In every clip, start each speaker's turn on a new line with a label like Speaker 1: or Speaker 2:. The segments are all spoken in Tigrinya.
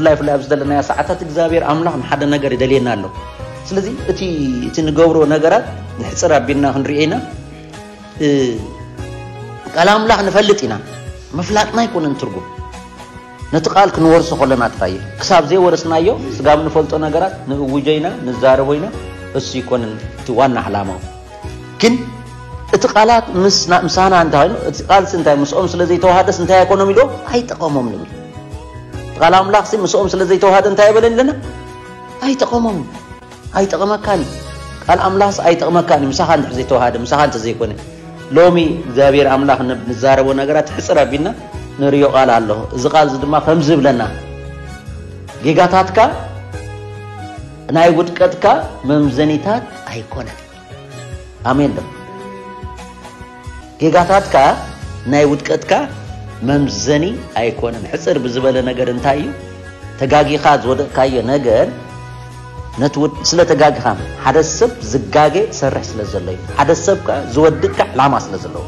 Speaker 1: ብፍላይ ፍላይ ኣብ ዘለናያ ሰዓታት እግዚኣብሔር ኣምላኽ ንሓደ ነገር ይደልየና ኣሎ ስለዚ እቲ እቲ ንገብሮ ነገራት ንሕፅር ኣቢልና ክንሪኦ ኢና ቃል ኣምላኽ ንፈልጥ ኢና ምፍላጥና ኣይኮነን ትርጉም ነቲ ቃል ክንወርሶ ከሎና ጥራይ እዩ። ክሳብ ዘይወረስናዮ ስጋብ ንፈልጦ ነገራት ንእውጆ ኢና፣ ንዛረቦ ኢና፣ እሱ ኣይኮነን እቲ ዋና ዕላማኡ። ግን እቲ ቃላት ምሳና እንተ ኸይኑ እቲ ቃልሲ እንታይ ምስኦም ስለ ዘይተዋሃደስ እንታይ ኣይኮኖም ኢልዎም ኣይጠቐሞም ንብል። ቃል ኣምላኽሲ ምስኦም ስለ ዘይተዋሃደ እንታይ ኣይበለን ኢለና ኣይጠቐሞም ኣይጠቕመካን እዩ ቃል ኣምላኽስ ኣይጠቕመካን እዩ ምሳኻ እንድሕር ዘይተዋሃደ ምሳኻ እንተዘይኮነ ሎሚ እግዚኣብሔር ኣምላኽ ንዛረቦ ነገራት ሕፅር ኣቢልና ንሪዮ ቃል ኣሎ እዚ ቃል እዚ ድማ ከምዚ ይብለና ጌጋታትካ ናይ ውድቀትካ መምዘኒታት ኣይኮነን ኣሜን በል። ጌጋታትካ ናይ ውድቀትካ መምዘኒ ኣይኮነን። ሕፅር ብዝበለ ነገር እንታይ እዩ ተጋጊኻ ዝወደቕካዮ ነገር ስለ ተጋጊኻ ሓደ ሰብ ዝጋገ ሰርሕ ስለ ዘሎ እዩ። ሓደ ሰብ ከዓ ዝወድቅ ዕላማ ስለ ዘለዎ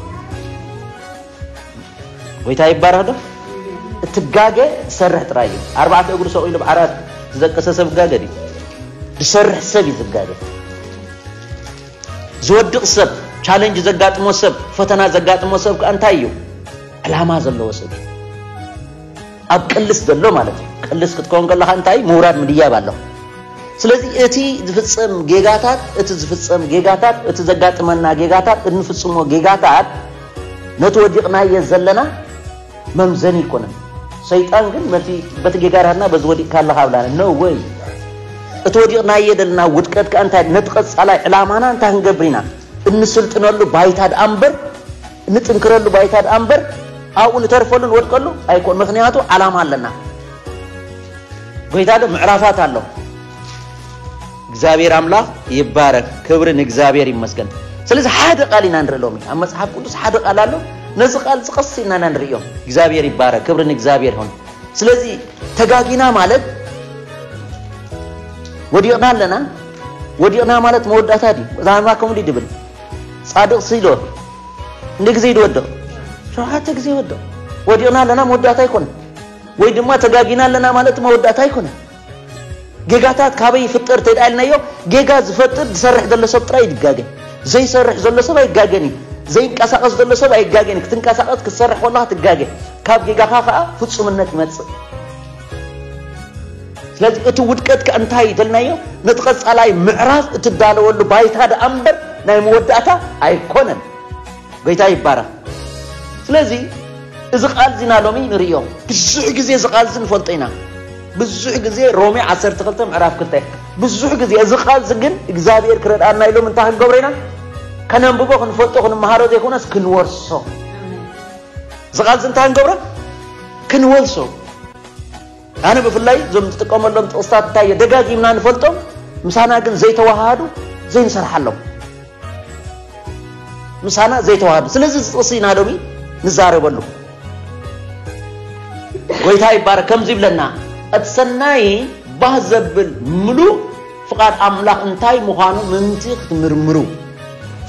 Speaker 1: ጎይታ ይባረኽ ዶ እትጋገ ዝሰርሕ ጥራይ እዩ ኣርባዕተ እግሩ ሰቂሉ ብ ዓራት ዝደቀሰ ሰብ ጋገ ድዩ ዝሰርሕ ሰብ እዩ ዝጋገ ዝወድቕ ሰብ ቻለንጅ ዘጋጥሞ ሰብ ፈተና ዘጋጥሞ ሰብ ከ እንታይ እዩ ዕላማ ዘለዎ ሰብ እዩ ኣብ ቅልስ ዘሎ ማለት እዩ ቅልስ ክትከውን ከለካ እንታይ ምውራድ ምድያብ ኣሎ ስለዚ እቲ ዝፍፀም ጌጋታት እቲ ዝፍፀም ጌጋታት እቲ ዘጋጥመና ጌጋታት እንፍፅሞ ጌጋታት ነቲ ወዲቕናዬ ዘለና መምዘኒ ኣይኮነን። ሰይጣን ግን ነቲ በቲ ጌጋራትና በዚ ወዲቕካ ኣለኻ ኣብላና no way እቲ ወዲቕናዬ ዘለና ውድቀት ከኣ እንታይ ነቲ ቀጻላይ ዕላማና እንታይ ክንገብር ኢና እንስልጥነሉ ባይታ ደኣ እምበር እንጥንክረሉ ባይታ ደኣ እምበር ኣብኡ ንተርፈሉ ንወድቀሉ ኣይኮን ምክንያቱ ዓላማ ኣለና ጎይታ ዶ ምዕራፋት ኣሎ እግዚኣብሔር ኣምላኽ ይባረክ ክብሪ ንእግዚኣብሔር ይመስገን ስለዚ ሓደ ቃል ኢና ንርኢ ሎሚ ኣብ መጽሓፍ ቅዱስ ሓደ ቃል ኣሎ ነዚ ቃል ዝቐስ ኢና ኢና ንርእዮ እግዚኣብሔር ይባረክ ክብሪ ንእግዚኣብሔር ይኹን ስለዚ ተጋጊና ማለት ወዲቕና ኣለና ወዲቕና ማለት መወዳእታ ድዩ ዛንባ ከምኡ ድብል ጻድቕ ስኢሎ ንግዜ ድወድቕ ሸውዓተ ግዜ ወድቕ ወዲቕና ኣለና መወዳእታ ኣይኮነ ወይ ድማ ተጋጊና ኣለና ማለት መወዳእታ ኣይኮነ ጌጋታት ካበይ ይፍጠር ተድኣ ኢልናዮ ጌጋ ዝፈጥር ዝሰርሕ ዘሎ ሰብ ጥራይ ይጋገ ዘይሰርሕ ዘሎ ሰብ ኣይጋገን እዩ ዘይንቀሳቐስ ዘሎ ሰብ ኣይጋገን እዩ ክትንቀሳቐስ ክትሰርሕ ከለኻ ትጋገ ካብ ጌጋኻ ከዓ ፍፁምነት ይመፅእ ስለዚ እቲ ውድቀት ከ እንታይ እዩ ተልናዮ ነቲ ቀፃላይ ምዕራፍ እትዳለወሉ ባይታ ደኣ እምበር ናይ መወዳእታ ኣይኮነን ጎይታ ይባረኽ ስለዚ እዚ ቃል እዚና ሎሚ ንርእዮ ብዙሕ ግዜ እዚ ቃል እዚ ንፈልጦ ኢና ብዙሕ ግዜ ሮሜ ዓሰርተ ክልተ ምዕራፍ ክልተ ብዙሕ ግዜ እዚ ቃል እዚ ግን እግዚኣብሔር ክረድኣና ኢሎም እንታይ ክንገብሮ ኢና ከነንብቦ ክንፈልጦ ክንመሃሮ ዘይኮነስ ክንወርሶ እዚ ቃል እዚ እንታይ ክንገብሮ ክንወርሶ ኣነ ብፍላይ እዞም ዝጥቀመሎም ጥቕስታት እንታይ ደጋጊምና ንፈልጦም ምሳና ግን ዘይተዋሃሃዱ ዘይንሰርሓሎም ምሳና ዘይተዋሃዱ ስለዚ እዚ ጥቕሲ ኢና ሎሚ ንዛረበሉ ጎይታ ይባረክ ከምዚ ይብለና እቲ ሰናይ ባህ ዘብል ምሉእ ፍቓድ ኣምላኽ እንታይ ምዃኑ ምእንቲ ክትምርምሩ።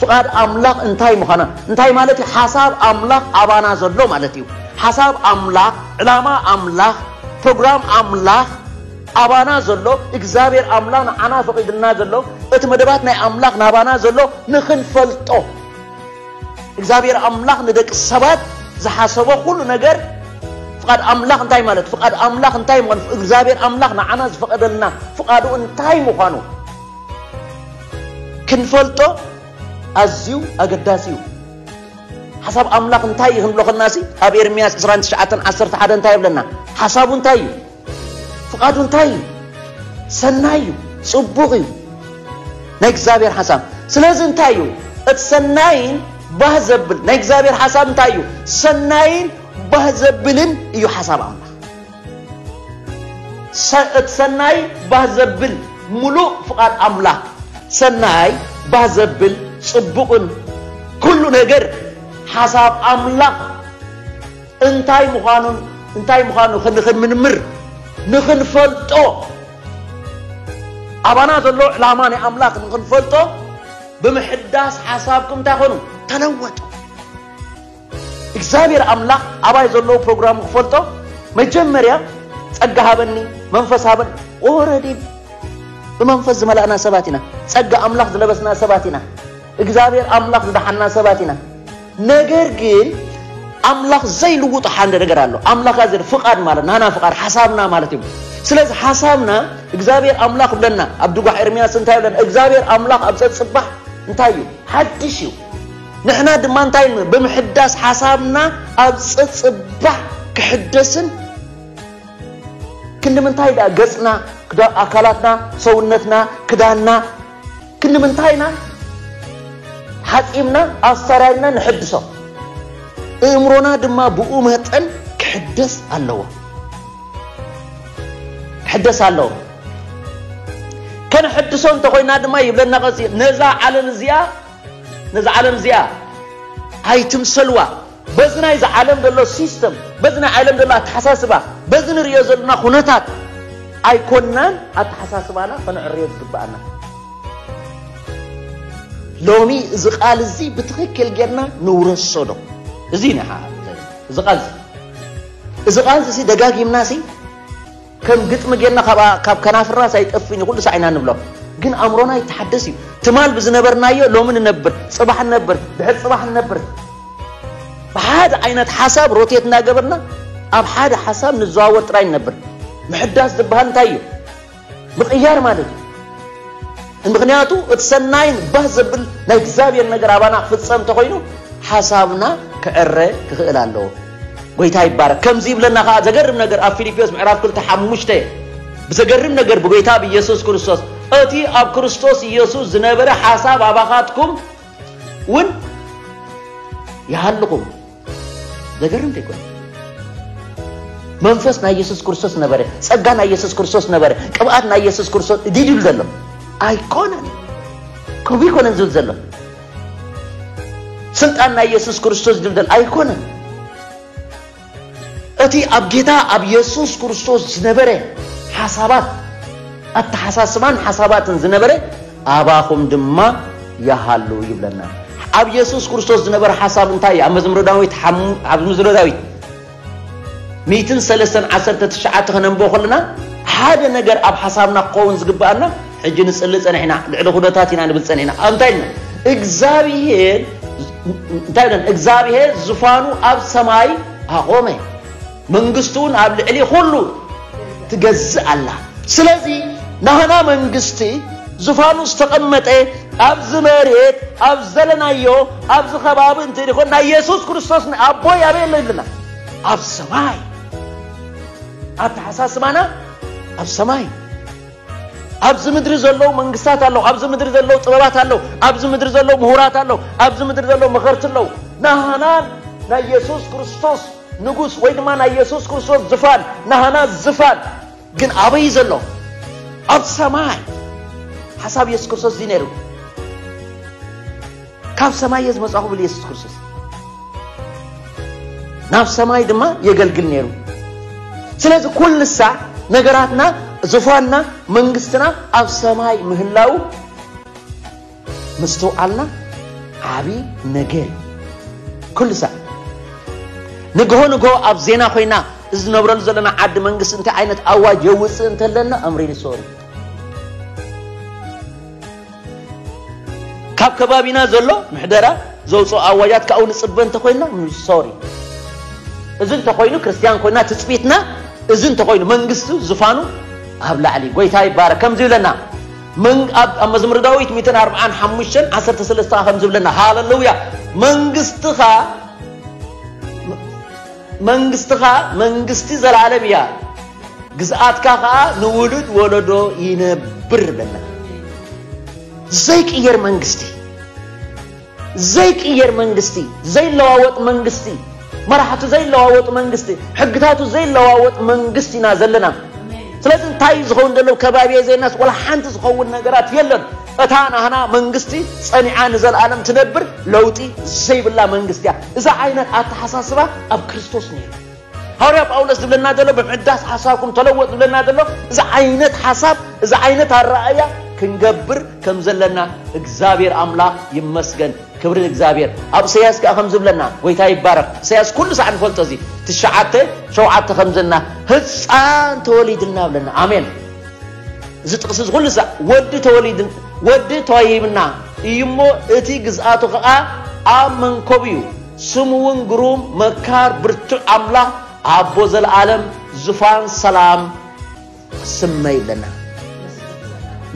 Speaker 1: ፍቓድ ኣምላኽ እንታይ ምዃና እንታይ ማለት እዩ? ሓሳብ ኣምላኽ ኣባና ዘሎ ማለት እዩ። ሓሳብ ኣምላኽ፣ ዕላማ ኣምላኽ፣ ፕሮግራም ኣምላኽ ኣባና ዘሎ እግዚኣብሔር ኣምላኽ ንዓና ፈቒድልና ዘሎ እቲ መደባት ናይ ኣምላኽ ናባና ዘሎ ንኽንፈልጦ እግዚኣብሔር ኣምላኽ ንደቂ ሰባት ዝሓሰቦ ኩሉ ነገር ፍቓድ ኣምላኽ እንታይ ማለት ፍቓድ ኣምላኽ እንታይ ምዃኑ እግዚኣብሔር ኣምላኽ ንዓና ዝፈቐደልና ፍቓዱ እንታይ ምዃኑ ክንፈልጦ ኣዝዩ ኣገዳሲ እዩ ሓሳብ ኣምላኽ እንታይ እዩ ክንብሎ ከለናሲ ኣብ ኤርምያስ 29 11 እንታይ ይብለና ሓሳቡ እንታይ እዩ ፍቓዱ እንታይ እዩ? ሰናይ እዩ፣ ጽቡቕ እዩ ናይ እግዚኣብሔር ሓሳብ። ስለዚ እንታይ እዩ እቲ ሰናይን ባህ ዘብል ናይ እግዚኣብሔር ሓሳብ እንታይ እዩ? ሰናይን ባህ ዘብልን እዩ ሓሳብ ኣምላኽ። እቲ ሰናይ ባህ ዘብል ምሉእ ፍቓድ ኣምላኽ ሰናይ ባህ ዘብል ጽቡቕን ኩሉ ነገር ሓሳብ ኣምላኽ እንታይ ምዃኑን እንታይ ምዃኑ ንኽንምርምር ንኽንፈልጦ ኣባና ዘሎ ዕላማ ናይ ኣምላኽ ንኽንፈልጦ ብምሕዳስ ሓሳብኩም እንታይ ኾኑ ተለወጡ እግዚኣብሔር ኣምላኽ ኣባይ ዘለዎ ፕሮግራም ክፈልጦ መጀመርያ ጸጋ ሃበኒ መንፈስ ሃበን ወረዲ ብመንፈስ ዝመላእና ሰባት ኢና ጸጋ ኣምላኽ ዝለበስና ሰባት ኢና እግዚኣብሔር ኣምላኽ ዝደሓና ሰባት ኢና ነገር ግን ኣምላኽ ዘይልውጦ ሓደ ነገር ኣሎ። ኣምላኽ ኣዘር ፍቓድ ማለት ናና ፍቓድ ሓሳብና ማለት እዩ። ስለዚ ሓሳብና እግዚኣብሔር ኣምላኽ ብለና ኣብ ድጓ ኤርምያስ እንታይ ብለና? እግዚኣብሔር ኣምላኽ ኣብ ጸጽባሕ እንታይ እዩ ሓድሽ እዩ። ንሕና ድማ እንታይ ብምሕዳስ ሓሳብና ኣብ ጸጽባሕ ክሕደስን ክንዲ ምንታይ ደኣ ገጽና ኣካላትና ሰውነትና ክዳንና ክንምንታይ ኢና ሓጺብና ኣሰራሪና ንሕድሶ፣ እእምሮና ድማ ብኡ መጠን ክሕደስ ኣለዎ ክሕደስ ኣለዎ። ከነሕድሶ እንተኾይና ድማ ይብለና ቀጺሉ ነዛ ዓለም እዚኣ ነዛ ዓለም እዚኣ ኣይትምሰልዋ በዚ ናይዚ ዓለም ዘሎ ሲስተም በዚ ናይ ዓለም ዘሎ ኣተሓሳስባ በዚ ንርእዮ ዘለና ኩነታት ኣይኮናን ኣተሓሳስባና ከነዕርዮ ዝግብኣና። ሎሚ እዚ ቃል እዚ ብትኽክል ጌርና ንውረሶ ዶ? እዚ ንሓ እዚ ቃል እዚ ቃል እዚ ደጋጊምና ሲ ከም ግጥሚ ጌርና ካብኣ ካብ ከናፍርናስ ኣይጠፍእን እዩ ኩሉ ሳዕ ኢና ንብሎ ግን ኣእምሮና ይተሓደስ እዩ ትማል ብዝነበርናዮ ሎሚ ንነብር ጽባሕ ንነብር ድሕሪ ጽባሕ ንነብር ብሓደ ዓይነት ሓሳብ ሮቴት እናገበርና ኣብ ሓደ ሓሳብ ንዘዋወር ጥራይ ንነብር ምሕዳስ ዝበሃል እንታይ እዩ ምቕያር ማለት እዩ ምክንያቱ እቲ ሰናይን ባህ ዘብል ናይ እግዚኣብሔር ነገር ኣባና ክፍጸም እንተኾይኑ ሓሳብና ክዕረ ክኽእል ኣለዎ ጎይታ ይባረክ ከምዚ ይብለና ከኣ ዘገርም ነገር ኣብ ፊልጵዮስ ምዕራፍ ክልተ ሓሙሽተ ብዘገርም ነገር ብጎይታ ብኢየሱስ ክርስቶስ እቲ ኣብ ክርስቶስ ኢየሱስ ዝነበረ ሓሳብ ኣባኻትኩም ውን ይሃልኹም ዘገርም ዘይኮነ መንፈስ ናይ ኢየሱስ ክርስቶስ ነበረ ጸጋ ናይ ኢየሱስ ክርስቶስ ነበረ ቅብኣት ናይ ኢየሱስ ክርስቶስ ዲድል ዘሎ ኣይኮነን ከምኡ ይኮነን ዝብል ዘሎ ስልጣን ናይ የሱስ ክርስቶስ ድልደል ኣይኮነን። እቲ ኣብ ጌታ ኣብ የሱስ ክርስቶስ ዝነበረ ሓሳባት ኣተሓሳስባን ሓሳባትን ዝነበረ ኣባኹም ድማ ይሃሉ ይብለና። ኣብ የሱስ ክርስቶስ ዝነበረ ሓሳብ እንታይ እዩ? ኣብ መዝሙረ ዳዊት ኣብ መዝሙረ ዳዊት ሚእትን ሰለስተን ዓሰርተ ትሽዓተ ከነንብቦ ከለና ሓደ ነገር ኣብ ሓሳብና ክኸውን ዝግብኣና ሕጂ ንጽሊ ጸኒሕና ልዕሊ ኩነታት ኢና ንብል ጸኒሕና ኣብ እንታይ ኢልና እግዚኣብሄር እንታይ ኢለን እግዚኣብሄር ዝፋኑ ኣብ ሰማይ ኣቖመ መንግስቱ እውን ኣብ ልዕሊ ኩሉ ትገዝእ ኣላ። ስለዚ ናህና መንግስቲ ዝፋኑ ዝተቐመጠ ኣብዚ መሬት ኣብ ዘለናዮ ኣብዚ ከባቢ እንተይኮን ናይ የሱስ ክርስቶስ ንኣቦይ ኣበይ ኣሎ ይብለና ኣብ ሰማይ ኣተሓሳስባና ኣብ ሰማይ ኣብዚ ምድሪ ዘለዉ መንግስታት ኣለዉ ኣብዚ ምድሪ ዘለዉ ጥበባት ኣለዉ ኣብዚ ምድሪ ዘለዉ ምሁራት ኣለዉ ኣብዚ ምድሪ ዘለዉ መኸርቲ ኣለዉ ናህናን ናይ የሱስ ክርስቶስ ንጉስ ወይ ድማ ናይ የሱስ ክርስቶስ ዝፋን ናህና ዝፋን ግን ኣበይ ዘሎ ኣብ ሰማይ ሓሳብ የሱስ ክርስቶስ እዚ ነይሩ ካብ ሰማይ እየ ዝመጻኹ ብል የሱስ ክርስቶስ ናብ ሰማይ ድማ የገልግል ነይሩ ስለዚ ኩልሳ ነገራትና ዝፋንና መንግስትና ኣብ ሰማይ ምህላው ምስትውዓልና ዓብዪ ነገር እዩ ኩሉ ሰብ ንግሆ ንግሆ ኣብ ዜና ኮይና እዚ ዝነብረሉ ዘለና ዓዲ መንግስቲ እንታይ ዓይነት ኣዋጅ የውፅእ እንተለና ኣምሪን ይሰሩ ካብ ከባቢና ዘሎ ምሕደራ ዘውፅኦ ኣዋጃት ካብኡ ንፅበ እንተኮይንና ሶሪ እዚ እንተኮይኑ ክርስትያን ኮይና ትፅቢትና እዚ እንተኮይኑ መንግስቱ ዝፋኑ ኣብ ላዕሊ ጎይታ ይባረ ከምዚ ይብለና ኣብ መዝሙር ዳዊት 145 13 ከዓ ከምዚ ይብለና ሃለሉያ መንግስትኻ መንግስትኻ መንግስቲ ዘላለም እያ ግዝኣትካ ከኣ ንውሉድ ወለዶ ይነብር በልና። ዘይቅየር መንግስቲ ዘይቅየር መንግስቲ ዘይለዋወጥ መንግስቲ መራሕቱ ዘይለዋወጥ መንግስቲ ሕግታቱ ዘይለዋወጥ መንግስቲ ኢና ዘለና ስለዚ እንታይ እዩ ዝኸውን ዘሎ ከባቢ ዜናስ ወላ ሓንቲ ዝኸውን ነገራት የለን እታ ናህና መንግስቲ ጸኒዓ ንዘለኣለም ትነብር ለውጢ ዘይብላ መንግስቲ እያ እዛ ዓይነት ኣተሓሳስባ ኣብ ክርስቶስ ነይሩ ሃዋርያ ጳውሎስ ዝብለና ዘሎ ብምሕዳስ ሓሳብኩም ተለወጥ ዝብለና ዘሎ እዚ ዓይነት ሓሳብ እዚ ዓይነት ኣረኣእያ ክንገብር ከም ዘለና እግዚኣብሔር ኣምላኽ ይመስገን ክብሪ ንእግዚኣብሔር ኣብ እሰያስ ከዓ ከም ዝብለና ጎይታ ይባረኽ እሰያስ ኩሉ ሳዕ ንፈልጦ እዚ ትሽዓተ ሸውዓተ ከም ዘለና ህፃን ተወሊድልና ብለና ኣሜን እዚ ጥቕሲ እዚ ኩሉ ሳዕ ወዲ ተወሊድ ወዲ ተዋሂብና እዩ እሞ እቲ ግዝኣቱ ከዓ ኣብ መንኮብ እዩ ስሙ ውን ግሩም መካር ብርቱዕ ኣምላኽ ኣቦ ዘልኣለም ዙፋን ሰላም ክስመ ይብለና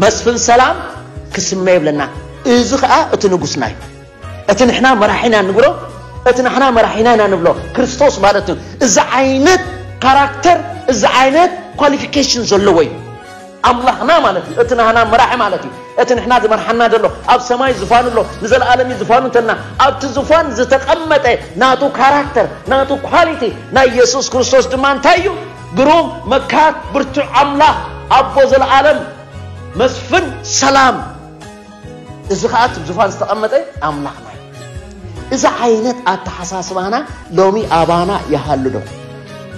Speaker 1: መስፍን ሰላም ክስመ ይብለና እዚ ኸኣ እቲ ንጉስና እዩ እቲ ንሕና መራሒና ንብሎ እቲ ንሕና መራሒና ኢና ንብሎ ክርስቶስ ማለት እዩ እዚ ዓይነት ካራክተር እዚ ዓይነት ኳሊፊኬሽን ዘለዎ እዩ ኣምላኽና ማለት እዩ። እቲ ናህና መራሒ ማለት እዩ። እቲ ንሕና ዝመርሓና ዘሎ ኣብ ሰማይ ዝፋኑ ኣሎ፣ ንዘለኣለም እዩ ዝፋኑ እንተልና ኣብቲ ዝፋን ዝተቐመጠ ናቱ ካራክተር ናቱ ኳሊቲ ናይ የሱስ ክርስቶስ ድማ እንታይ እዩ? ግሩም መካር ብርቱዕ ኣምላኽ ኣቦ ዘለኣለም መስፍን ሰላም እዚ ከኣ እቲ ዝፋን ዝተቐመጠ ኣምላኽና እዩ። እዚ ዓይነት ኣተሓሳስባና ሎሚ ኣባና ይሃሉ ዶ?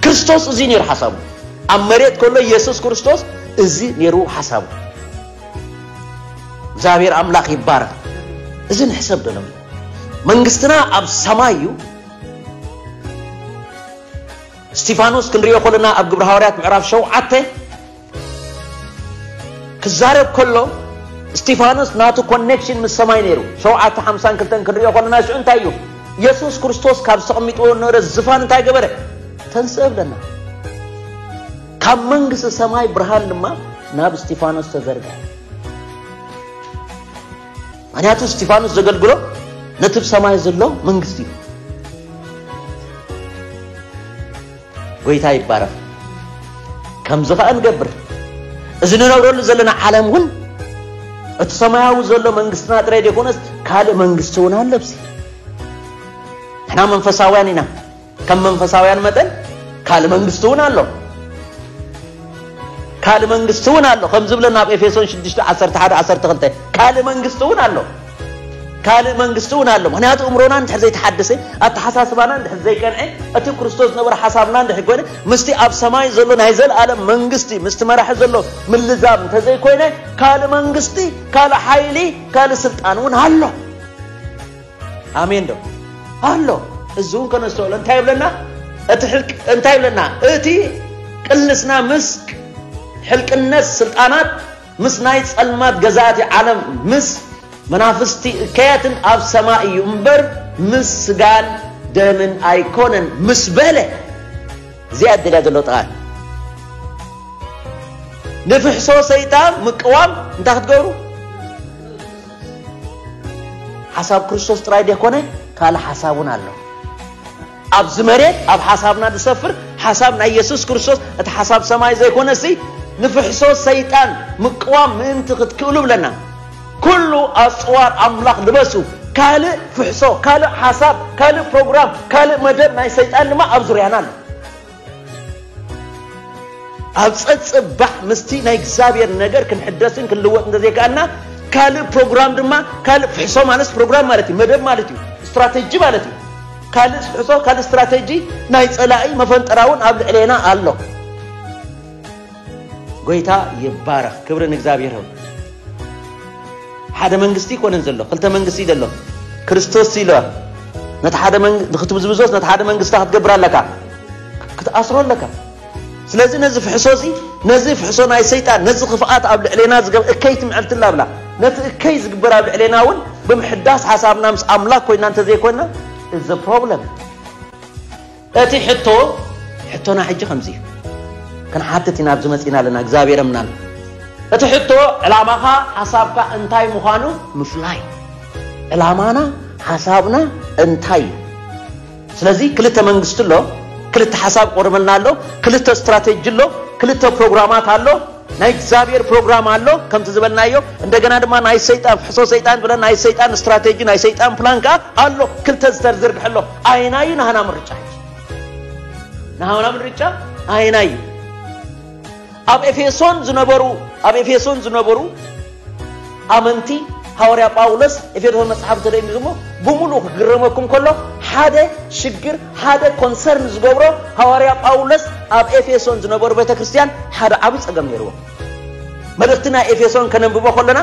Speaker 1: ክርስቶስ እዚ ነይሩ ሓሳቡ። ኣብ መሬት ከሎ ኢየሱስ ክርስቶስ እዚ ነይሩ ሓሳቡ። እግዚኣብሔር ኣምላኽ ይባረኽ። እዚ ንሕሰብ ዶ ሎሚ? መንግስትና ኣብ ሰማይ እዩ። እስጢፋኖስ ክንሪኦ ከለና ኣብ ግብረ ሃዋርያት ምዕራፍ ሸውዓተ ክዛረብ ከሎ እስጢፋኖስ ናቱ ኮኔክሽን ምስ ሰማይ ነይሩ ሸውዓተ ሓምሳን ክልተን ክንሪኦ ከለና ሽዑ እንታይ እዩ ኢየሱስ ክርስቶስ ካብ ዝተቐሚጥዎ ነበረ ዝፋን እንታይ ገበረ ተንስእ ብለና ካብ መንግስቲ ሰማይ ብርሃን ድማ ናብ እስጢፋኖስ ተዘርጋ ምክንያቱ እስጢፋኖስ ዘገልግሎ ነቲ ብ ሰማይ ዘሎ መንግስቲ እዩ ጎይታ ይባረኽ ከምዚ ኸኣ ንገብር እዚ ንነብረሉ ዘለና ዓለም እውን እቲ ሰማያዊ ዘሎ መንግስትና ጥራይ ዘይኮነስ ካልእ መንግስቲ እውን ኣሎ ብዚ ንሕና መንፈሳውያን ኢና ከም መንፈሳውያን መጠን ካልእ መንግስቲ እውን ኣሎ ካልእ መንግስቲ እውን ኣሎ ከም ዝብለና ኣብ ኤፌሶን 6 11 12 ካልእ መንግስቲ እውን ኣሎ ካልእ መንግስቲ እውን ኣሎ ምክንያቱ እምሮና እንድሕር ዘይተሓደሰ ኣተሓሳስባና እንድሕር ዘይቀንዐ እቲ ክርስቶስ ዝነበረ ሓሳብና እንድሕር ኮይነ ምስቲ ኣብ ሰማይ ዘሎ ናይ ዘለኣለም መንግስቲ ምስቲ መራሒ ዘሎ ምልዛብ እንተዘይኮይነ ካልእ መንግስቲ ካልእ ሓይሊ ካልእ ስልጣን እውን ኣሎ ኣሜን ዶ ኣሎ እዚ እውን ከነስተውዕሎ እንታይ ይብለና እቲ ሕልቅ እንታይ ይብለና እቲ ቅልስና ምስ ሕልቅነት ስልጣናት ምስ ናይ ጸልማት ገዛእቲ ዓለም ምስ መናፍስቲ እከያትን ኣብ ሰማይ እዩ እምበር ምስ ስጋን ደምን ኣይኮነን ምስ በለ እዚኣ እድልያ ዘሎ ጥቓ ንፍሕሶ ሰይጣን ምቅዋም እንታይ ክትገብሩ ሓሳብ ክርስቶስ ጥራይ ዘይኮነ ካልእ ሓሳብ እውን ኣሎ ኣብዚ መሬት ኣብ ሓሳብና ዝሰፍር ሓሳብ ናይ የሱስ ክርስቶስ እቲ ሓሳብ ሰማይ ዘይኮነሲ ንፍሕሶ ሰይጣን ምቅዋም ምእንቲ ክትክእሉ እብለና። ኩሉ ኣጽዋር ኣምላኽ ልበሱ። ካልእ ፍሕሶ፣ ካልእ ሓሳብ፣ ካልእ ፕሮግራም፣ ካልእ መደብ ናይ ሰይጣን ድማ ኣብ ዙርያና ኣሎ። ኣብ ጸጽባሕ ምስቲ ናይ እግዚኣብሔር ነገር ክንሕደስን ክንልወጥ እንተዘይከኣልና ካልእ ፕሮግራም ድማ ካልእ ፍሕሶ ማለት ፕሮግራም ማለት እዩ መደብ ማለት እዩ ስትራቴጂ ማለት እዩ ካልእ ፍሕሶ ካልእ ስትራቴጂ ናይ ጸላኢ መፈንጠራውን ኣብ ልዕሌና ኣሎ ጎይታ ይባረኽ ክብሪ ንእግዚኣብሔር ይኹን። ሓደ መንግስቲ ይኮነን ዘሎ ክልተ መንግስቲ እዩ ዘሎ ክርስቶስ ኢለ ነቲ ሓደ ንክትብዝብዞስ ነቲ ሓደ መንግስቲ ክትገብር ኣለካ ክትኣስሮ ኣለካ ስለዚ ነዚ ፍሕሶ እዚ ነዚ ፍሕሶ ናይ ሰይጣን ነዚ ክፍኣት ኣብ ልዕሌና ዝገብ እከይ ትምዕልትላ ብላ ነቲ እከይ ዝግበር ኣብ ልዕሌና እውን ብምሕዳስ ሓሳብና ምስ ኣምላክ ኮይና እንተዘይኮይና እዚ ፕሮብለም እቲ ሕቶ ሕቶና ሕጂ ከምዚ እዩ ክንሓትት ኢና ኣብዚ መጺና ኣለና እግዚኣብሔር ኣምላክ እቲ ሕቶ ዕላማኻ ሓሳብካ እንታይ ምዃኑ ምፍላይ ዕላማና ሓሳብና እንታይ እዩ ስለዚ ክልተ መንግስቲ ኣሎ ክልተ ሓሳብ ቆርበልና ኣሎ ክልተ ስትራቴጂ ኣሎ ክልተ ፕሮግራማት ኣሎ ናይ እግዚኣብሔር ፕሮግራም ኣሎ ከምቲ ዝበልናዮ እንደገና ድማ ናይ ሰይጣን ፍሕሶ ሰይጣን ብለን ናይ ሰይጣን ስትራቴጂ ናይ ሰይጣን ፕላን ከዓ ኣሎ ክልተ ዝተርዝርግሐ ኣሎ ኣይናዩ ናህና ምርጫ ናህና ምርጫ ኣይናዩ ኣብ ኤፌሶን ዝነበሩ ኣብ ኤፌሶን ዝነበሩ ኣመንቲ ሃወርያ ጳውሎስ ኤፌሶን መጽሓፍ ተደሚሩ እሞ ብምሉእ ክግረመኩም ከሎ ሓደ ሽግር ሓደ ኮንሰርን ዝገብሮ ሃወርያ ጳውሎስ ኣብ ኤፌሶን ዝነበሩ ቤተ ክርስቲያን ሓደ ዓብዪ ጸገም ነይርዎ መልእኽቲ ናይ ኤፌሶን ከነንብቦ ከለና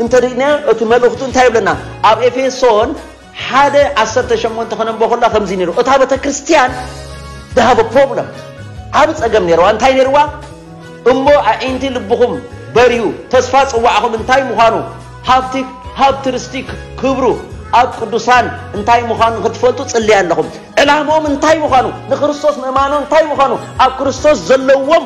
Speaker 1: እንተድና እቲ መልእኽቱ እንታይ ይብለና ኣብ ኤፌሶን ሓደ ዓሰርተ ሸሞንተ ክነንቦ ከሎ ከምዚ ነይሩ እታ ቤተክርስትያን ድሃቦ ፕሮብለም ዓብ ጸገም ነይርዋ እንታይ ነይርዋ እሞ ኣዒንቲ ልብኹም በርሁ ተስፋ ጽዋዕኹም እንታይ ምዃኑ ሃብቲ ሃብቲ ርስቲ ክብሩ ኣብ ቅዱሳን እንታይ ምዃኑ ንክትፈልጡ ጽልያ ኣለኹም ዕላምኦም እንታይ ምዃኑ ንክርስቶስ ምእማኖ እንታይ ምዃኑ ኣብ ክርስቶስ ዘለዎም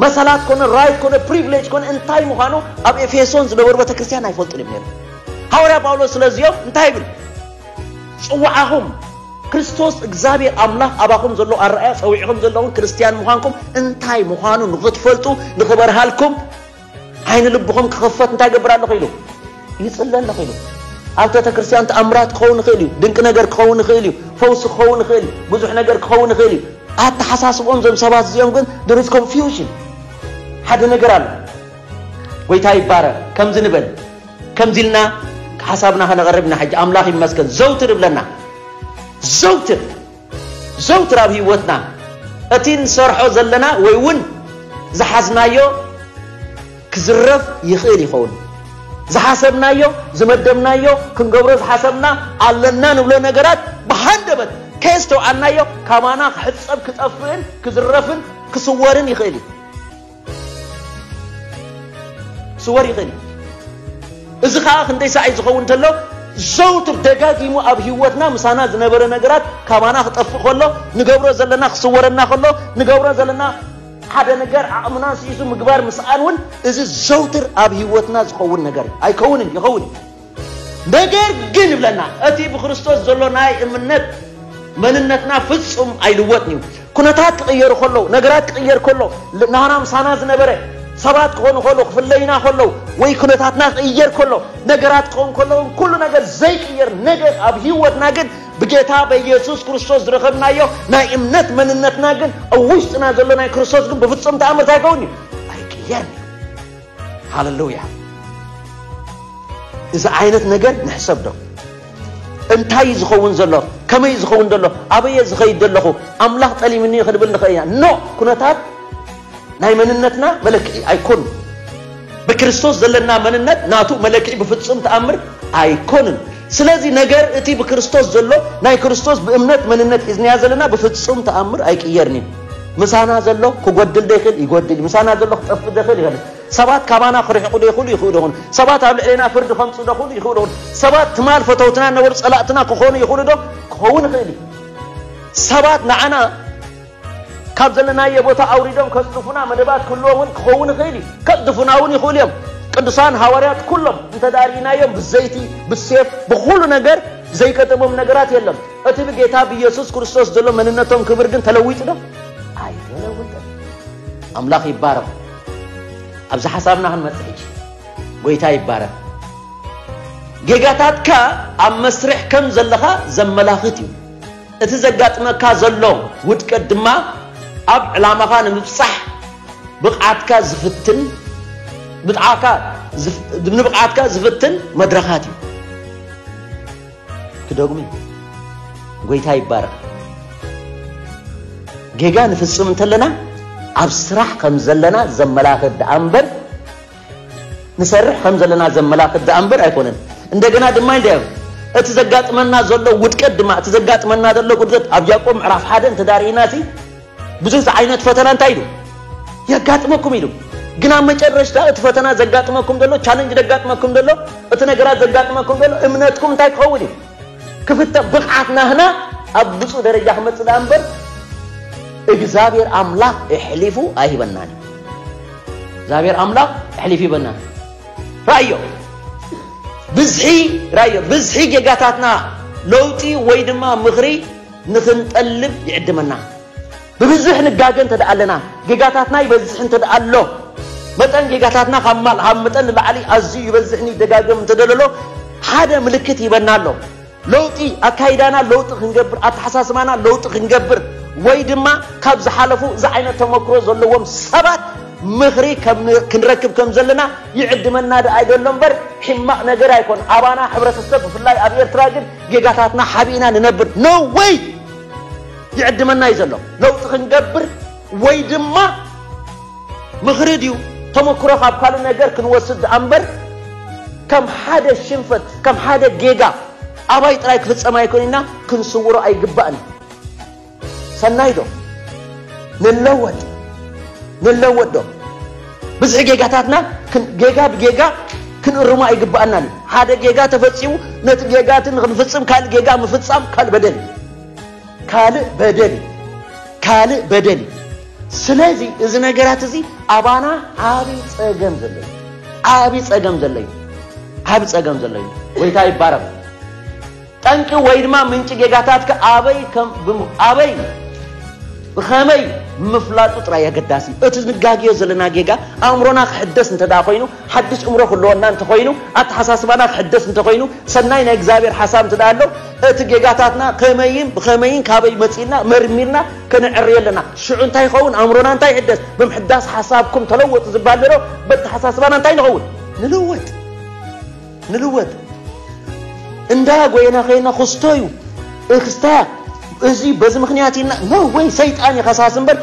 Speaker 1: መሰላት ኮነ ራይት ኮነ ፕሪቪሌጅ ኮነ እንታይ ምዃኑ ኣብ ኤፌሶን ዝነበሩ ቤተ ክርስቲያን ኣይፈልጡን እዮም ነይሮም ሃዋርያ ጳውሎስ ስለዚኦም እንታይ ይብል ጽዋዓኹም ክርስቶስ እግዚኣብሔር ኣምላኽ ኣባኹም ዘሎ ኣረኣያ ፀዊዕኹም ዘለኹም ክርስትያን ምዃንኩም እንታይ ምዃኑ ንኽትፈልጡ ንኽበርሃልኩም ዓይኒ ልብኹም ክኽፈት እንታይ ይገብር ኣለኹ ኢሉ ይጽለ ኣለኹ ኢሉ ኣብ ቤተ ክርስቲያን ተኣምራት ክኸውን ይኽእል እዩ ድንቂ ነገር ክኸውን ይኽእል እዩ ፈውሲ ክኸውን ይኽእል እዩ ብዙሕ ነገር ክኸውን ይኽእል እዩ ኣተሓሳስቦም ዞም ሰባት እዚኦም ግን ድርስ ኮንፊውዥን ሓደ ነገር ኣሎ ጎይታ ይባረ ከምዚ ንበል ከምዚ ኢልና ሓሳብና ከነቕርብ ኢና ሕጂ ኣምላኽ ይመስገን ዘውትር ይብለና ዘውትር ዘውትር ኣብ ህይወትና እቲ እንሰርሖ ዘለና ወይ እውን ዝሓዝናዮ ክዝረፍ ይኽእል ይኸውን። ዝሓሰብናዮ ዝመደብናዮ ክንገብሮ ዝሓሰብና ኣለና ንብሎ ነገራት ብሃንደበት ከየስተውዓልናዮ ካባና ክሕጸብ ክጠፍእን ክዝረፍን ክስወርን ይኽእል እዩ። ስወር ይኽእል እዩ። እዚ ኸኣ ክንደይ ሳዕ እዩ ዝኸውን እንተሎ ዘውትር ደጋጊሙ ኣብ ህይወትና ምሳና ዝነበረ ነገራት ካባና ክጠፍእ ከሎ ንገብሮ ዘለና ክስወረና ከሎ ንገብሮ ዘለና ሓደ ነገር ዓቕምና ስኢሱ ምግባር ምስኣን እውን እዚ ዘውትር ኣብ ህይወትና ዝኸውን ነገር እዩ። ኣይከውንን ይኸውን እዩ። ነገር ግን ይብለና እቲ ብክርስቶስ ዘሎ ናይ እምነት መንነትና ፍጹም ኣይልወጥን እዩ ኩነታት ክቕየሩ ከለዉ ነገራት ክቕየር ከሎ ናህና ምሳና ዝነበረ ሰባት ክኾኑ ከለዉ ክፍለዩና ከለዉ ወይ ኩነታትና ክቕየር ከሎ ነገራት ክኸውን ከለዉ ኩሉ ነገር ዘይቅየር ነገር ኣብ ህይወትና ግን ብጌታ በኢየሱስ ክርስቶስ ዝረኸብናዮ ናይ እምነት መንነትና ግን ኣብ ውሽጥና ዘሎ ናይ ክርስቶስ ግን ብፍጹም ተኣምር እንታይ ይከውን እዩ ኣይቅየርን እዩ ሃለሉያ እዚ ዓይነት ነገር ንሕሰብ ዶ እንታይ እዩ ዝኸውን ዘሎ ከመይ እዩ ዝኸውን ዘሎ ኣበየ ዝኸይድ ዘለኹ ኣምላኽ ጠሊምኒ ክንብል ንኽእል ኢና ኖ ኩነታት ናይ መንነትና መለክዒ ኣይኮኑ ብክርስቶስ ዘለና መንነት ናቱ መለክዒ ብፍጹም ተኣምር ኣይኮንን ስለዚ ነገር እቲ ብክርስቶስ ዘሎ ናይ ክርስቶስ ብእምነት መንነት ሒዝናያ ዘለና ብፍጹም ተኣምር ኣይቅየርን እዩ ምሳና ዘሎ ክጎድል ዶ ይኽእል? ይጎድል እዩ። ምሳና ዘሎ ክጠፍእ ዶ ይኽእል? ይኸልእ። ሰባት ካባና ክርሕቑ ዶ ይኽእሉ? ይኽእሉ ይኹን። ሰባት ኣብ ልዕሌና ፍርዲ ከምጽኡ ዶ ይኽእሉ? ይኽእሉ ይኹን። ሰባት ትማል ፈተውትና ነበሩ ጸላእትና ክኾኑ ይኽእሉ ዶ? ክኸውን ይኽእል እዩ። ሰባት ንዓና ካብ ዘለናዮ ቦታ ኣውሪዶም ከጽድፉና መደባት ክህልዎም እውን ክኸውን ይኽእል እዩ። ከጽድፉና እውን ይኽእሉ እዮም። ቅዱሳን ሃዋርያት ኩሎም እንተ ርኢናዮም ብዘይቲ ብሴፍ ብኹሉ ነገር ዘይገጠሞም ነገራት የለን። እቲ ብጌታ ብየሱስ ክርስቶስ ዘሎ መንነቶም ክብር ግን ተለዊጡ ዶ? ኣይተለወጠን። ኣምላኽ ይባረኽ። ኣብዚ ሓሳብና ክንመጽእ ሕጂ ጎይታ ይባረኽ። ጌጋታትካ ኣብ መስርሕ ከም ዘለኻ ዘመላኽት እዩ። እቲ ዘጋጥመካ ዘሎ ውድቀት ድማ ኣብ ዕላማኻ ንምብጻሕ ብቕዓትካ ዝፍትን ብጥዓካ ንብቕዓትካ ዝፍትን መድረኻት እዩ። ክደግሙ እዩ ጎይታ ይባረኽ ጌጋ ንፍጽም እንተለና ኣብ ስራሕ ከም ዘለና ዘመላኽት ደኣ እምበር ንሰርሕ ከም ዘለና ዘመላኽት ደኣ እምበር ኣይኮነን እንደገና ድማ እንደ እቲ ዘጋጥመና ዘሎ ውድቀት ድማ እቲ ዘጋጥመና ዘሎ ጉድለት ኣብ ያዕቆብ ምዕራፍ ሓደ እንተዳርእና ብዙሕ ዝዓይነት ፈተና እንታይ ኢሉ የጋጥመኩም ኢሉ ግን ኣብ መጨረሽታ እቲ ፈተና ዘጋጥመኩም ዘሎ ቻለንጅ ዘጋጥመኩም ዘሎ እቲ ነገራት ዘጋጥመኩም ዘሎ እምነትኩም እንታይ ክኸውን እዩ ክፍተ ብቕዓት ናህና ኣብ ብፁእ ደረጃ ክመፅእ ዳኣ እምበር እግዚኣብሔር ኣምላኽ እሕሊፉ ኣይህበናን እዩ እግዚኣብሔር ኣምላኽ እሕሊፉ ይበናን ራእዮ ብዝሒ ራእዮ ብዝሒ ጌጋታትና ለውጢ ወይ ድማ ምኽሪ ንኽንጠልብ ይዕድመና። ብብዝሕ ንጋገ እንተደኣ ኣለና፣ ጌጋታትና ይበዝሕ እንተደኣ ኣሎ፣ መጠን ጌጋታትና ካብ መጠን ንላዕሊ ኣዝዩ ይበዝሕን ይደጋገም እንተደለሎ፣ ሓደ ምልክት ይህበና ኣሎ። ለውጢ ኣካይዳና ለውጢ ክንገብር፣ ኣተሓሳስባና ለውጢ ክንገብር ወይ ድማ ካብ ዝሓለፉ እዚ ዓይነት ተመክሮ ዘለዎም ሰባት ምኽሪ ክንረክብ ከም ዘለና ይዕድመና ደኣ ይደሎ እምበር ሕማቕ ነገር ኣይኮን። ኣባና ሕብረተሰብ ብፍላይ ኣብ ኤርትራ ግን ጌጋታትና ሓቢእና ንነብር no way ይዕድመና እዩ ዘሎ ለውጢ ክንገብር ወይ ድማ ምኽሪ ድዩ ተመክሮ ካብ ካልእ ነገር ክንወስድ ድኣ እምበር ከም ሓደ ሽንፈት ከም ሓደ ጌጋ ኣባይ ጥራይ ክፍጸም ኣይኮን ኢና ክንስውሮ ኣይግባእን ሰናይ ዶ ንለወጥ ንለወጥ ዶ ብዝሒ ጌጋታትና ጌጋ ብጌጋ ክንእርሞ ኣይግባኣናን እዩ ሓደ ጌጋ ተፈፂሙ ነቲ ጌጋ እቲ ንክንፍፅም ካልእ ጌጋ ምፍፃም ካልእ በደል እዩ ካልእ በደል እዩ ካልእ በደል እዩ ስለዚ እዚ ነገራት እዚ ኣባና ዓብይ ፀገም ዘሎ እዩ ዓብይ ፀገም ዘሎ እዩ ዓብይ ፀገም ዘሎ እዩ ጎይታ ይባረክ ጠንቂ ወይ ድማ ምንጪ ጌጋታትካ ኣበይ ከም ብም ኣበይ ብኸመይ ምፍላጡ ጥራይ ኣገዳሲ እዩ። እቲ ንጋግዮ ዘለና ጌጋ ኣእምሮና ክሕደስ እንተ ደኣ ኮይኑ፣ ሓድሽ እምሮ ክህልወና እንተ ኾይኑ፣ ኣተሓሳስባና ክሕደስ እንተ ኾይኑ፣ ሰናይ ናይ እግዚኣብሔር ሓሳብ እንተ ደኣ ኣሎ፣ እቲ ጌጋታትና ከመይን ብኸመይን ካበይ መጺኡ ኢልና መርሚርና ከነዕርዮ ኣለና። ሽዑ እንታይ ይኸውን? ኣእምሮና እንታይ ይሕደስ? ብምሕዳስ ሓሳብኩም ተለወጡ ዝበሃል ዘሎ በተሓሳስባና እንታይ ንኸውን? ንልወጥ። ንልወጥ እንዳ ጎይና ከይና ክስቶ እዩ እክስታ እዚ በዚ ምክንያት ኢና ኖ ወይ ሰይጣን ይኸሳስ እምበር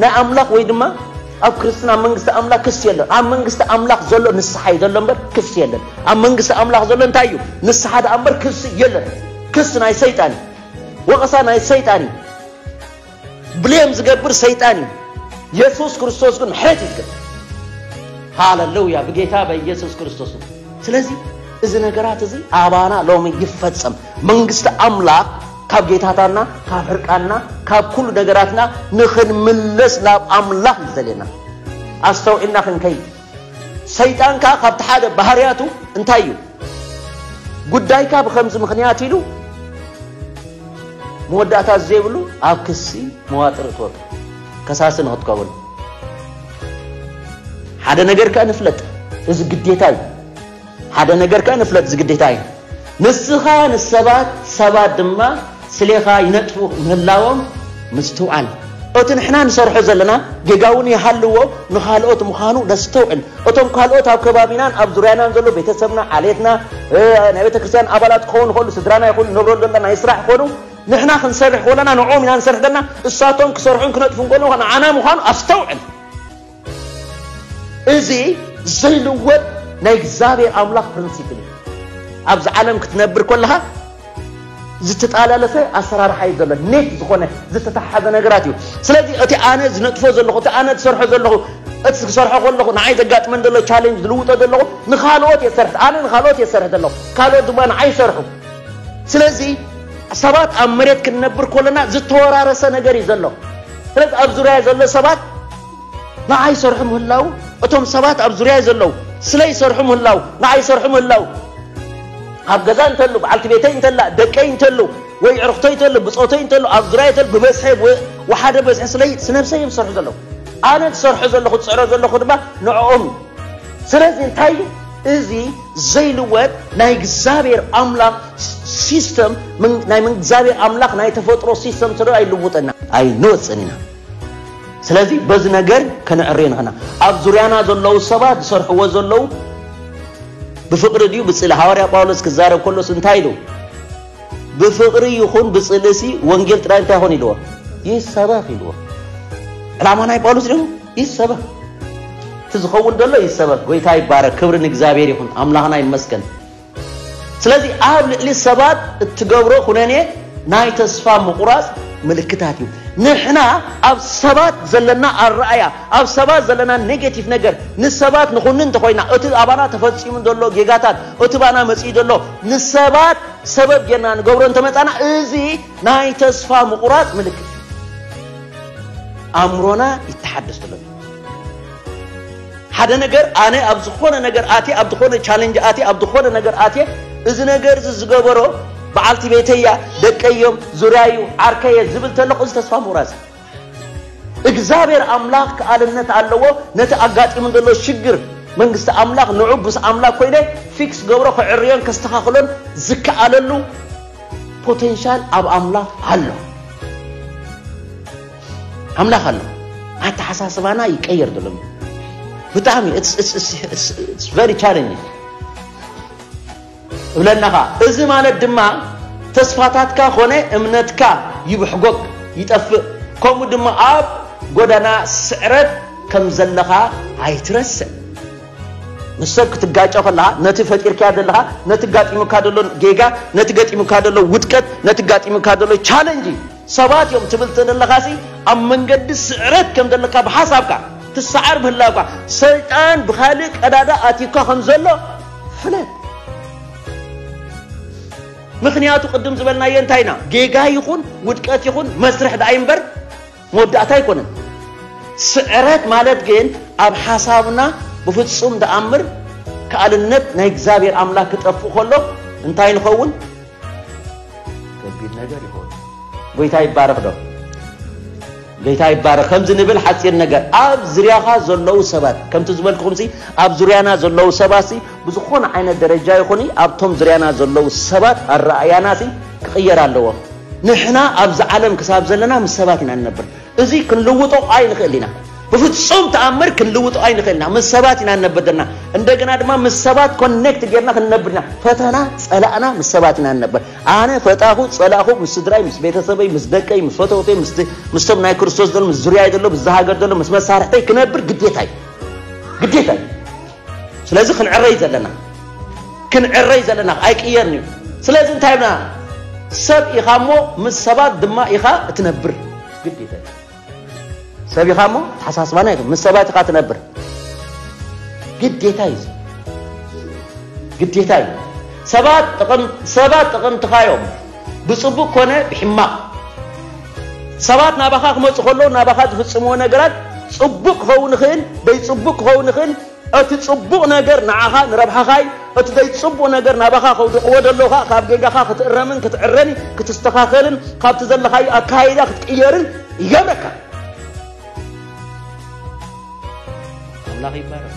Speaker 1: ናይ ኣምላኽ ወይ ድማ ኣብ ክርስትና ኣብ መንግስቲ ኣምላኽ ክስ የለን ኣብ መንግስቲ ኣምላኽ ዘሎ ንስሓ እዩ ዘሎ እምበር ክስ የለን ኣብ መንግስቲ ኣምላኽ ዘሎ እንታይ እዩ ንስሓ ደኣ እምበር ክስ የለን ክስ ናይ ሰይጣን እዩ ወቐሳ ናይ ሰይጣን እዩ ብሌም ዝገብር ሰይጣን እዩ። የሱስ ክርስቶስ ግን ምሕረት እዩ ዝገብር። ሃለሉያ! ብጌታ በኢየሱስ ክርስቶስ። ስለዚ እዚ ነገራት እዚ ኣባና ሎሚ ይፈጸም። መንግስቲ ኣምላኽ ካብ ጌታታትና ካብ ሕርቃንና ካብ ኩሉ ነገራትና ንኽንምለስ ናብ ኣምላኽ እዩ ዘልየና። ኣስተውዒልና ክንከይድ ሰይጣን ከኣ ካብቲ ሓደ ባህርያቱ እንታይ እዩ ጉዳይካ ብከምዚ ምክንያት ኢሉ መወዳእታ ዘይብሉ ኣብ ክሲ መዋጥር እትወጡ ከሳሲ ንክትከውን ሓደ ነገር ከ ንፍለጥ እዚ ግዴታ እዩ ሓደ ነገር ከኣ ንፍለጥ እዚ ግዴታ እዩ ንስኻ ንሰባት ሰባት ድማ ስሌኻ ይነጥፉ ምህላዎም ምስትውዓል እቲ ንሕና ንሰርሖ ዘለና ጌጋ እውን ይሃልዎ ንኻልኦት ምዃኑ ነስተውዕል እቶም ካልኦት ኣብ ከባቢናን ኣብ ዙርያናን ዘሎ ቤተሰብና ዓሌትና ናይ ቤተክርስትያን ኣባላት ክኾኑ ይኽእሉ ስድራና ይኹኑ ንነብረሉ ዘለና ናይ ስራሕ ክኾኑ ንሕና ክንሰርሕ ከለና ንዕኦም ኢና ንሰርሕ ዘለና እሳቶም ክሰርሑን ክነጥፉን ከለዉ ንዓና ምዃኑ ኣስተውዕል እዚ ዘይልወጥ ናይ እግዚኣብሔር ኣምላኽ ፕሪንሲፕል እዩ ኣብዚ ዓለም ክትነብር ኮለኻ ዝተጣላለፈ ኣሰራርሓ እዩ ዘሎ ኔት ዝኾነ ዝተተሓሓዘ ነገራት እዩ ስለዚ እቲ ኣነ ዝነጥፎ ዘለኹ እቲ ኣነ ዝሰርሖ ዘለኹ እቲ ክሰርሖ ከለኹ ንዓይ ዘጋጥመን ዘሎ ቻሌንጅ ዝልውጦ ዘለኹ ንካልኦት እየ ዝሰርሕ ኣነ ንካልኦት እየ ዝሰርሕ ዘለኹ ካልኦት ድማ ንዓይ ይሰርሑ ስለዚ ሰባት ኣብ መሬት ክንነብር ኮለና ዝተወራረሰ ነገር እዩ ዘሎ ስለዚ ኣብ ዙርያ ዘሎ ሰባት ንዓይ ይሰርሑ ምህላዉ እቶም ሰባት ኣብ ዙርያይ ዘለዉ ስለይ ይሰርሑ ምህላዉ ንዓይ ይሰርሑ ምህላዉ ኣብ ገዛ እንተሉ በዓልቲ ቤተይ እንተላ ደቀይ እንተሉ ወይ ዕርኽቶይ እንተሉ ብጾተይ እንተሉ ኣብ ዙርያይ እንተሉ ብበዝሒ ወሓደ በዝሒ ስለይ ስነብሰይ እዮም ዝሰርሑ ዘለዉ ኣነ ዝሰርሖ ዘለኹ ዝጽዕሮ ዘለኹ ድማ ንዕኦም እዩ ስለዚ እንታይ እዩ እዚ ዘይልወጥ ናይ እግዚኣብሔር ኣምላኽ ሲስተም ናይ እግዚኣብሔር ኣምላኽ ናይ ተፈጥሮ ሲስተም ስለ ኣይልውጥና ኣይንወፅን ኢና ስለዚ በዚ ነገር ከነዕሪ ንኽና ኣብ ዙርያና ዘለዉ ሰባት ዝሰርሕዎ ዘለዉ ብፍቕሪ ድዩ ብጽሊ ሃዋርያ ጳውሎስ ክዛረብ ከሎስ እንታይ ኢሉ ብፍቕሪ ይኹን ብጽልእሲ ወንጌል ጥራይ እንታይ ይኾን ኢልዎ ይሰበኽ ኢልዎ ዕላማ ናይ ጳውሎስ ድዩ ይሰበኽ እቲ ዝኸውን ደሎ ይሰበኽ ጎይታ ይባረክ ክብሪ ንእግዚኣብሔር ይኹን ኣምላኽና ይመስገን ስለዚ ኣብ ልዕሊ ሰባት እትገብሮ ኩነኔ ናይ ተስፋ ምቑራጽ ምልክታት እዩ። ንሕና ኣብ ሰባት ዘለና ኣረኣእያ፣ ኣብ ሰባት ዘለና ኔጌቲቭ ነገር ንሰባት ንኹንን እንተኾይና፣ እቲ ኣባና ተፈጺሙ ዘሎ ጌጋታት፣ እቲ ባና መጺኡ ዘሎ ንሰባት ሰበብ ጌርና ንገብሮ እንተመጻና እዚ ናይ ተስፋ ምቑራጽ ምልክት እዩ። ኣእምሮና ይተሓደስ ተሎ። ሓደ ነገር ኣነ ኣብ ዝኾነ ነገር ኣትየ ኣብ ዝኾነ ቻለንጅ ኣትየ ኣብ ዝኾነ ነገር ኣትየ እዚ ነገር እዚ ዝገበሮ በዓልቲ ቤተያ ደቀዮም ዙርያዩ ዓርከየ ዝብል ተለኹ እዚ ተስፋ ምቑራፅ እግዚኣብሔር ኣምላኽ ከኣልነት ኣለዎ ነቲ ኣጋጢሙ ዘሎ ሽግር መንግስቲ ኣምላኽ ንዑ ምስ ኣምላኽ ኮይነ ፊክስ ገብሮ ክዕርዮን ከስተኻኽሎን ዝከኣለሉ ፖቴንሻል ኣብ ኣምላኽ ኣሎ ኣምላኽ ኣሎ ኣተሓሳስባና ይቀየር ዘሎ ብጣዕሚ ቨሪ ቻለንጅ እብለናኻ እዚ ማለት ድማ ተስፋታትካ ኮነ እምነትካ ይብሕጎግ ይጠፍእ ከምኡ ድማ ኣብ ጎዳና ስዕረት ከም ዘለኻ ኣይትረስዕ ምስ ሰብ ክትጋጨ ከለኻ ነቲ ፈጢርካ ዘለኻ ነቲ ጋጢሙካ ዘሎ ጌጋ ነቲ ገጢሙካ ዘሎ ውድቀት ነቲ ጋጢሙካ ዘሎ ቻለንጅ ሰባት እዮም ትብል ተደለኻሲ ኣብ መንገዲ ስዕረት ከም ዘለካ ብሓሳብካ ትሰዓር ምህላውካ ሰይጣን ብኻልእ ቀዳዳ ኣትዩካ ከም ዘሎ ፍለጥ። ምክንያቱ ቅድም ዝበልናዮ እንታይ ኢና ጌጋ ይኹን ውድቀት ይኹን መስርሕ ደኣ እምበር መወዳእታ ኣይኮነን። ስዕረት ማለት ግን ኣብ ሓሳብና ብፍጹም ደኣምር ከኣልነት ናይ እግዚኣብሔር ኣምላክ ክጠፍእ ከሎ እንታይ ንኸውን? ከቢድ ነገር ይኸውን። ጎይታ ይባረኽ ዶ ጎይታ ይባረኽ። ከምዚ ንብል ሓፂር ነገር ኣብ ዝርያኻ ዘለዉ ሰባት ከምቲ ዝበልኩኹም ኣብ ዙርያና ዘለዉ ሰባት ብዝኾነ ዓይነት ደረጃ ይኹን ኣብቶም ዙርያና ዘለዉ ሰባት ኣረኣያና ክቕየር ኣለዎ። ንሕና ኣብዚ ዓለም ክሳብ ዘለና ምስ ሰባት ኢና ንነብር። እዚ ክንልውጦ ኣይንኽእል ኢና። ብፍጹም ተኣምር ክንልውጦ ኣይንኽእል ኢና። ምስ ሰባት ኢና ንነብር ዘለና። እንደገና ድማ ምስ ሰባት ኮኔክት ጌርና ክንነብር ኢና። ፈተና ጸላእና ምስ ሰባት ኢና ንነብር። ኣነ ፈጣኹ ጸላእኹ ምስ ስድራይ፣ ምስ ቤተሰበይ፣ ምስ ደቀይ፣ ምስ ፈተውተይ፣ ምስቶም ናይ ክርስቶስ ዘሎ፣ ምስ ዙርያይ ዘሎ፣ ምስዚ ሃገር ዘሎ፣ ምስ መሳርሕተይ ክነብር ግዴታ እዩ። ግዴታ እዩ። ስለዚ ክንዕረይ ዘለና ክንዕረይ ዘለና ኣይቅየርን እዩ ስለዚ እንታይ ብና ሰብ ኢኻ እሞ ምስ ሰባት ድማ ኢኻ እትነብር ግዴታ ሰብ ኢኻ እሞ ተሓሳስባና ይ ምስ ሰባት ኢኻ ትነብር ግዴታ እዩ ግዴታ እዩ ሰባት ጥቕምትኻ እዮም ብፅቡቅ ኮነ ብሕማቕ ሰባት ናባኻ ክመጹ ከለዉ ናባኻ ዝፍጽምዎ ነገራት ጽቡቅ ክኸውን ይኽእል ደይ ጽቡቅ ክኸውን ይኽእል እቲ ጽቡቅ ነገር ንዓኻ ንረብሓኻይ እቲ ደይ ጽቡቅ ነገር ናባኻ ከውድቅዎ ደለዉ ከኣ ካብ ጌጋኻ ክትእረምን ክትዕረን ክትስተኻኸልን ካብቲ ዘለኻዩ ኣካይዳ ክትቅየርን ይገብረካ ኣምላኽ ይባረኽ።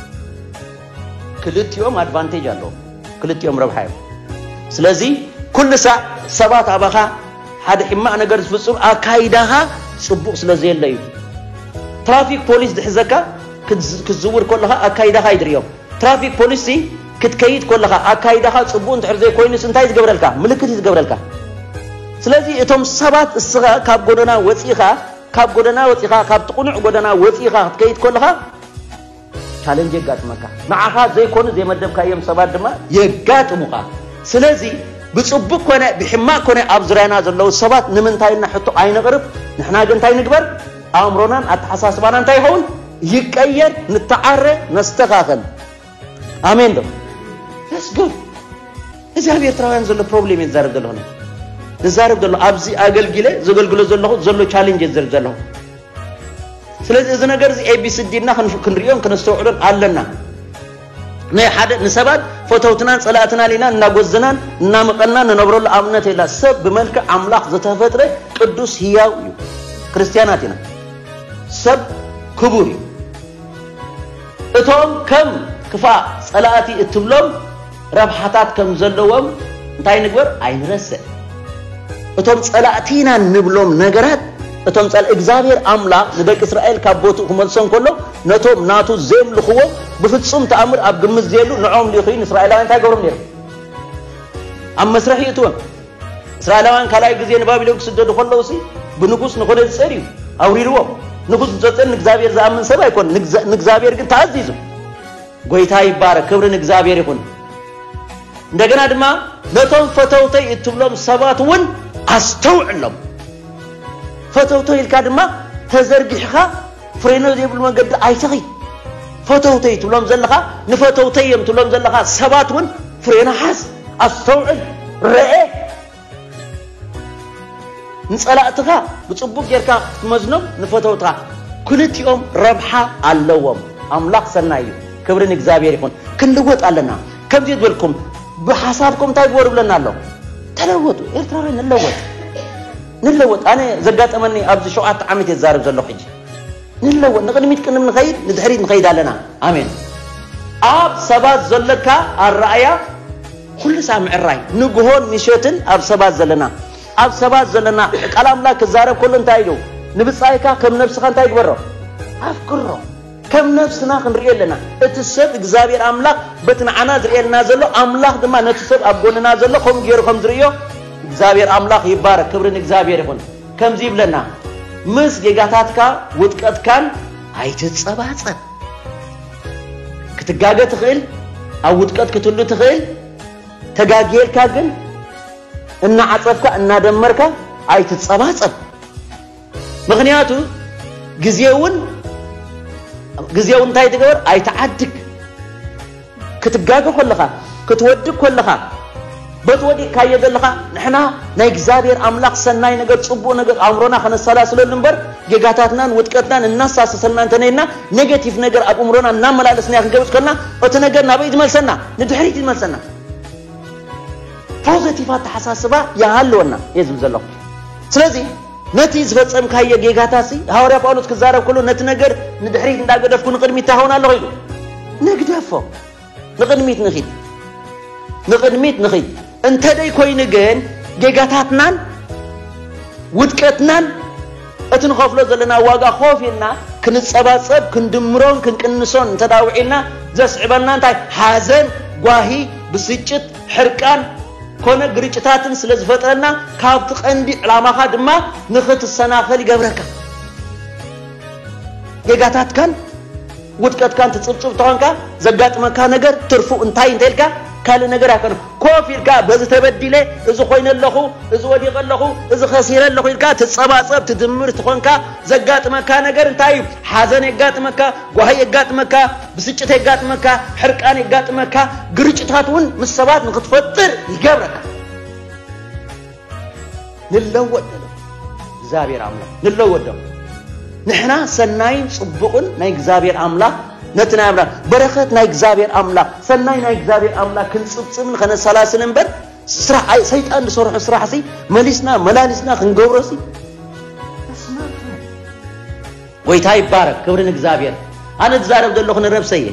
Speaker 1: ክልቲኦም ኣድቫንቴጅ ኣለዎም ክልቲኦም ረብሓ እዮም ስለዚ ኩሉ ሳዕ ሰባት ኣባኻ ሓደ ሕማቕ ነገር ዝፍጽም ኣካይዳኻ ጽቡቕ ስለ ዘየለ እዩ ትራፊክ ፖሊስ ዝሕዘካ ክትዝውር ከለኻ ኣካይዳኻ እዩ ዝሪኦም ትራፊክ ፖሊስ ክትከይድ ከለኻ ኣካይዳኻ ጽቡቕ እንድሕር ዘይኮይኑስ እንታይ ዝገብረልካ ምልክት እዩ ዝገብረልካ ስለዚ እቶም ሰባት እስኻ ካብ ጎደና ወፂኻ ካብ ጎደና ወፂኻ ካብቲ ቁኑዕ ጎደና ወፂኻ ክትከይድ ከለኻ ቻለንጅ የጋጥመካ። ንዓኻ ዘይኮኑ ዘይመደብካዮም ሰባት ድማ የጋጥሙኻ። ስለዚ ብጽቡቅ ኮነ ብሕማቅ ኮነ ኣብ ዙርያና ዘለዉ ሰባት ንምንታይ ኢልና ሕቶ ኣይነቅርብ። ንሕና ግን እንታይ ንግበር ኣእምሮናን ኣተሓሳስባናን እንታይ ይኸውን ይቀየር፣ ንተዓረ፣ ነስተኻኸል። ኣሜን ዶ Let's go እዚ ኣብ ኤርትራውያን ዘሎ ፕሮብሌም እየ ዝዛረብ ዘለኹ ዝዛረብ ዘሎ ኣብዚ ኣገልጊለ ዘገልግሎ ዘለኹ ዘሎ ቻሌንጅ እየ ዝዛረብ ዘለኹ ስለዚ እዚ ነገር እዚ ኤቢሲዲ ኢልና ክንርእዮን ክነስተውዕሎን ኣለና። ናይ ሓደ ንሰባት ፈተውትናን ጸላእትናን ኢና እናጎዘናን እናመቐናን ንነብረሉ ኣብነት የላ ሰብ ብመልክዕ ኣምላኽ ዝተፈጥረ ቅዱስ ህያው እዩ ክርስትያናት ኢና ሰብ ክቡር እዩ እቶም ከም ክፋእ ጸላእቲ እትብሎም ረብሓታት ከም ዘለዎም እንታይ ንግበር ኣይንረስዕ። እቶም ጸላእቲ ኢና እንብሎም ነገራት እቶም ጸላ እግዚኣብሔር ኣምላኽ ንደቂ እስራኤል ካብ ቦትኡ ክመልሶም ከሎ ነቶም ናቱ ዘየምልኽዎ ብፍጹም ተኣምር ኣብ ግምት ዘየሉ ንዖም ሊኹ ንእስራኤላውያን እንታይ ገብሮም ነይሮም ኣብ መስርሕ ይእትወም እስራኤላውያን ካልኣይ ግዜ ንባቢሎን ክስደዱ ከለዉ ሲ ብንጉስ ንኾነ ዝጸር እዩ ኣውሪርዎም ንጉስ ዝጸጸን ንእግዚኣብሔር ዝኣምን ሰብ ኣይኮነ ንእግዚኣብሔር ግን ተኣዚዙ ጎይታ ይባረክ ክብሪ ንእግዚኣብሔር ይኹን። እንደገና ድማ ነቶም ፈተውተይ እትብሎም ሰባት እውን ኣስተውዕሎም። ፈተውተይ ኢልካ ድማ ተዘርጊሕኻ ፍሬኖ ዘይብሉ መንገዲ ኣይትኺ። ፈተውተይ ትብሎም ዘለኻ ንፈተውተይ እዮም ትብሎም ዘለኻ ሰባት እውን ፍሬኖ ሓዝ፣ ኣስተውዕል፣ ረኤ ንጸላእትኻ ብጽቡቕ ጌርካ ክትመዝኖም ንፈተውትኻ ክልቲኦም ረብሓ ኣለዎም ኣምላኽ ሰናይ እዩ ክብሪ ንእግዚኣብሔር ይኹን ክንልወጥ ኣለና ከምዚ ዝበልኩም ብሓሳብኩም እንታይ ግበሩ ብለና ኣሎ ተለወጡ ኤርትራውያን ንለወጥ ንለወጥ ኣነ ዘጋጠመኒ ኣብዚ ሸውዓተ ዓመት እየ ዝዛረብ ዘለኹ ሕጂ ንለወጥ ንቕድሚት ቅድም ንኸይድ ንድሕሪት ንኸይድ ኣለና ኣሜን ኣብ ሰባት ዘለካ ኣረኣያ ኩሉ ሳዕ ምዕራይ ንግሆን ምሸትን ኣብ ሰባት ዘለና ኣብ ሰባት ዘለና ቃል ኣምላክ ክዛረብ ከሎ እንታይ ኢሉ ንብጻይካ ከም ነብስኻ እንታይ ግበሮ ኣፍቅሮ ከም ነብስና ክንሪኦ ኣለና እቲ ሰብ እግዚኣብሔር ኣምላክ በቲ ንዓና ዝርእየልና ዘሎ ኣምላክ ድማ ነቲ ሰብ ኣብ ጎንና ዘሎ ከምኡ ገይሩ ከም ዝርእዮ እግዚኣብሔር ኣምላክ ይባረክ ክብሪ ንእግዚኣብሔር ይኹን ከምዚ ይብለና ምስ ጌጋታትካ ውድቀትካን ኣይትጸባጸብ ክትጋገ ትኽእል፣ ኣብ ውድቀት ክትሉ ትኽእል። ተጋጊየልካ ግን እናዓጸፍካ እናደመርካ ኣይትጸባጸብ። ምኽንያቱ ግዜ እውን ግዜ እውን እንታይ ትገበር ኣይትዓድግ። ክትጋገ ኮለኻ ክትወድቅ ኮለኻ በቲ ወዲቅካዮ ዘለኻ ንሕና ናይ እግዚኣብሔር ኣምላኽ ሰናይ ነገር ጽቡቅ ነገር ኣእምሮና ከነሰላስለሉ እምበር ጌጋታትናን ውድቀትናን እናሳሰሰልና እንተነይና ኔጌቲቭ ነገር ኣብ እምሮና እናመላለስናዮ ክንገብጽ ከልና እቲ ነገር ናበይ ዝመልሰና ንድሕሪት ይመልሰና ፖዘቲቭ ኣተሓሳስባ ይሃለወና እየ ዝብል ዘለኹ ስለዚ ነቲ ዝፈጸምካዮ ጌጋታሲ ሃዋርያ ጳውሎስ ክዛረብ ከሎ ነቲ ነገር ንድሕሪት እንዳገደፍኩ ንቕድሚት ታኸውን ኣለኹ ኢሉ ነግደፎ ንቕድሚት ንኺድ ንቕድሚት ንኺድ እንተደይ ኮይኑ ግን ጌጋታትናን ውድቀትናን እቲ ንኸፍሎ ዘለና ዋጋ ኮፍ ኢልና ክንጸባጸብ ክንድምሮን ክንቅንሶን እንተዳውዒልና ዘስዕበልና እንታይ ሓዘን ጓሂ ብስጭት ሕርቃን ኮነ ግርጭታትን ስለ ዝፈጥረና ካብቲ ቀንዲ ዕላማኻ ድማ ንኽትሰናኸል ይገብረካ። ጌጋታትካን ውድቀትካን ትጽብጽብ ተኾንካ ዘጋጥመካ ነገር ትርፉ እንታይ እንተልካ ካልእ ነገር ኣይኮነ ኮፍ ኢልካ በዚ ተበዲለ እዚ ኮይነ ኣለኹ እዚ ወዲቐ ኣለኹ እዚ ከሲረ ኣለኹ ኢልካ ትጸባጸብ ትድምር ትኾንካ ዘጋጥመካ ነገር እንታይ እዩ ሓዘን የጋጥመካ ጓሂ የጋጥመካ ብስጭት የጋጥመካ፣ ሕርቃን የጋጥመካ፣ ግርጭታት እውን ምስ ሰባት ንክትፈጥር ይገብረካ። ንለወጥ ደለ እግዚኣብሔር ኣምላኽ ንለወጥ ዶ ንሕና ሰናይን ጽቡቕን ናይ እግዚኣብሔር ኣምላኽ ነቲ ናይ ኣምላኽ በረኸት ናይ እግዚኣብሔር ኣምላኽ ሰናይ ናይ እግዚኣብሔር ኣምላኽ ክንጽብጽብን ከነሰላስል እምበር ስራሕ ሰይጣን ዝሰርሖ ስራሕ ሲ መሊስና መላሊስና ክንገብሮ ሲ ጎይታ ይባረክ ክብሪ ንእግዝኣብሔር ኣነ ዝዛረብ ዘለኩ ንረብሰይ እየ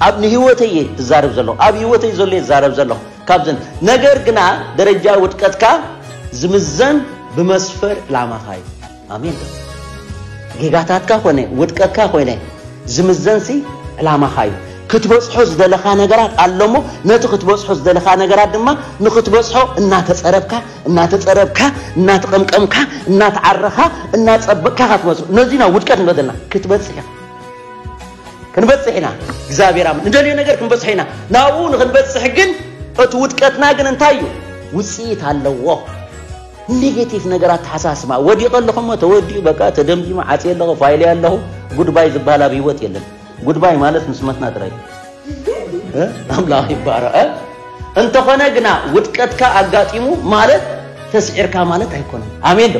Speaker 1: ኣብ ንህይወተይ እየ ዝዛረብ ዘለኩ ኣብ ህይወተይ ዘሎ እየ ዝዛረብ ዘለኩ ካብዘን ነገር ግና ደረጃ ውድቀትካ ዝምዘን ብመስፈር ዕላማካ እዩ ኣሜን ጌጋታትካ ኮነ ውድቀትካ ኮይነ ዝምዘንሲ ዕላማካ እዩ ክትበጽሖ ዝደለካ ነገራት ኣሎሞ ነቲ ክትበጽሖ ዝደለካ ነገራት ድማ ንክትበጽሖ እናተጸረብካ እናተጸረብካ፣ እናተቐምቀምካ፣ እናተዓረኻ፣ እናጸበቕካ ኢኻ ትመጽእ። ነዙይ ናብ ውድቀት ንብሎ ዘለና። ክትበጽሕ ኢኻ። ክንበጽሕ ኢና። እግዚኣብሔር ኣምላኽ ንደልዮ ነገር ክንበጽሖ ኢና። ናብኡ ንክንበጽሕ ግን እቲ ውድቀትና ግን እንታይ እዩ? ውጽኢት ኣለዎ። ኔጌቲቭ ነገር ኣተሓሳስባ ወዲቐ ኣለኹ እሞ ተወዲኡ በቃ ተደምዲሙ ዓጽየ ኣለኹ ፋይለየ ኣለኹ ጉድባይ ዝበሃል ኣብ ህይወት የለን። ጉድባይ ማለት ምስ መትና ጥራይ ኣምላኽ ይባረኸ እንተኾነ ግና ውድቀትካ ኣጋጢሙ ማለት ተስዒርካ ማለት ኣይኮነን ኣሜን ዶ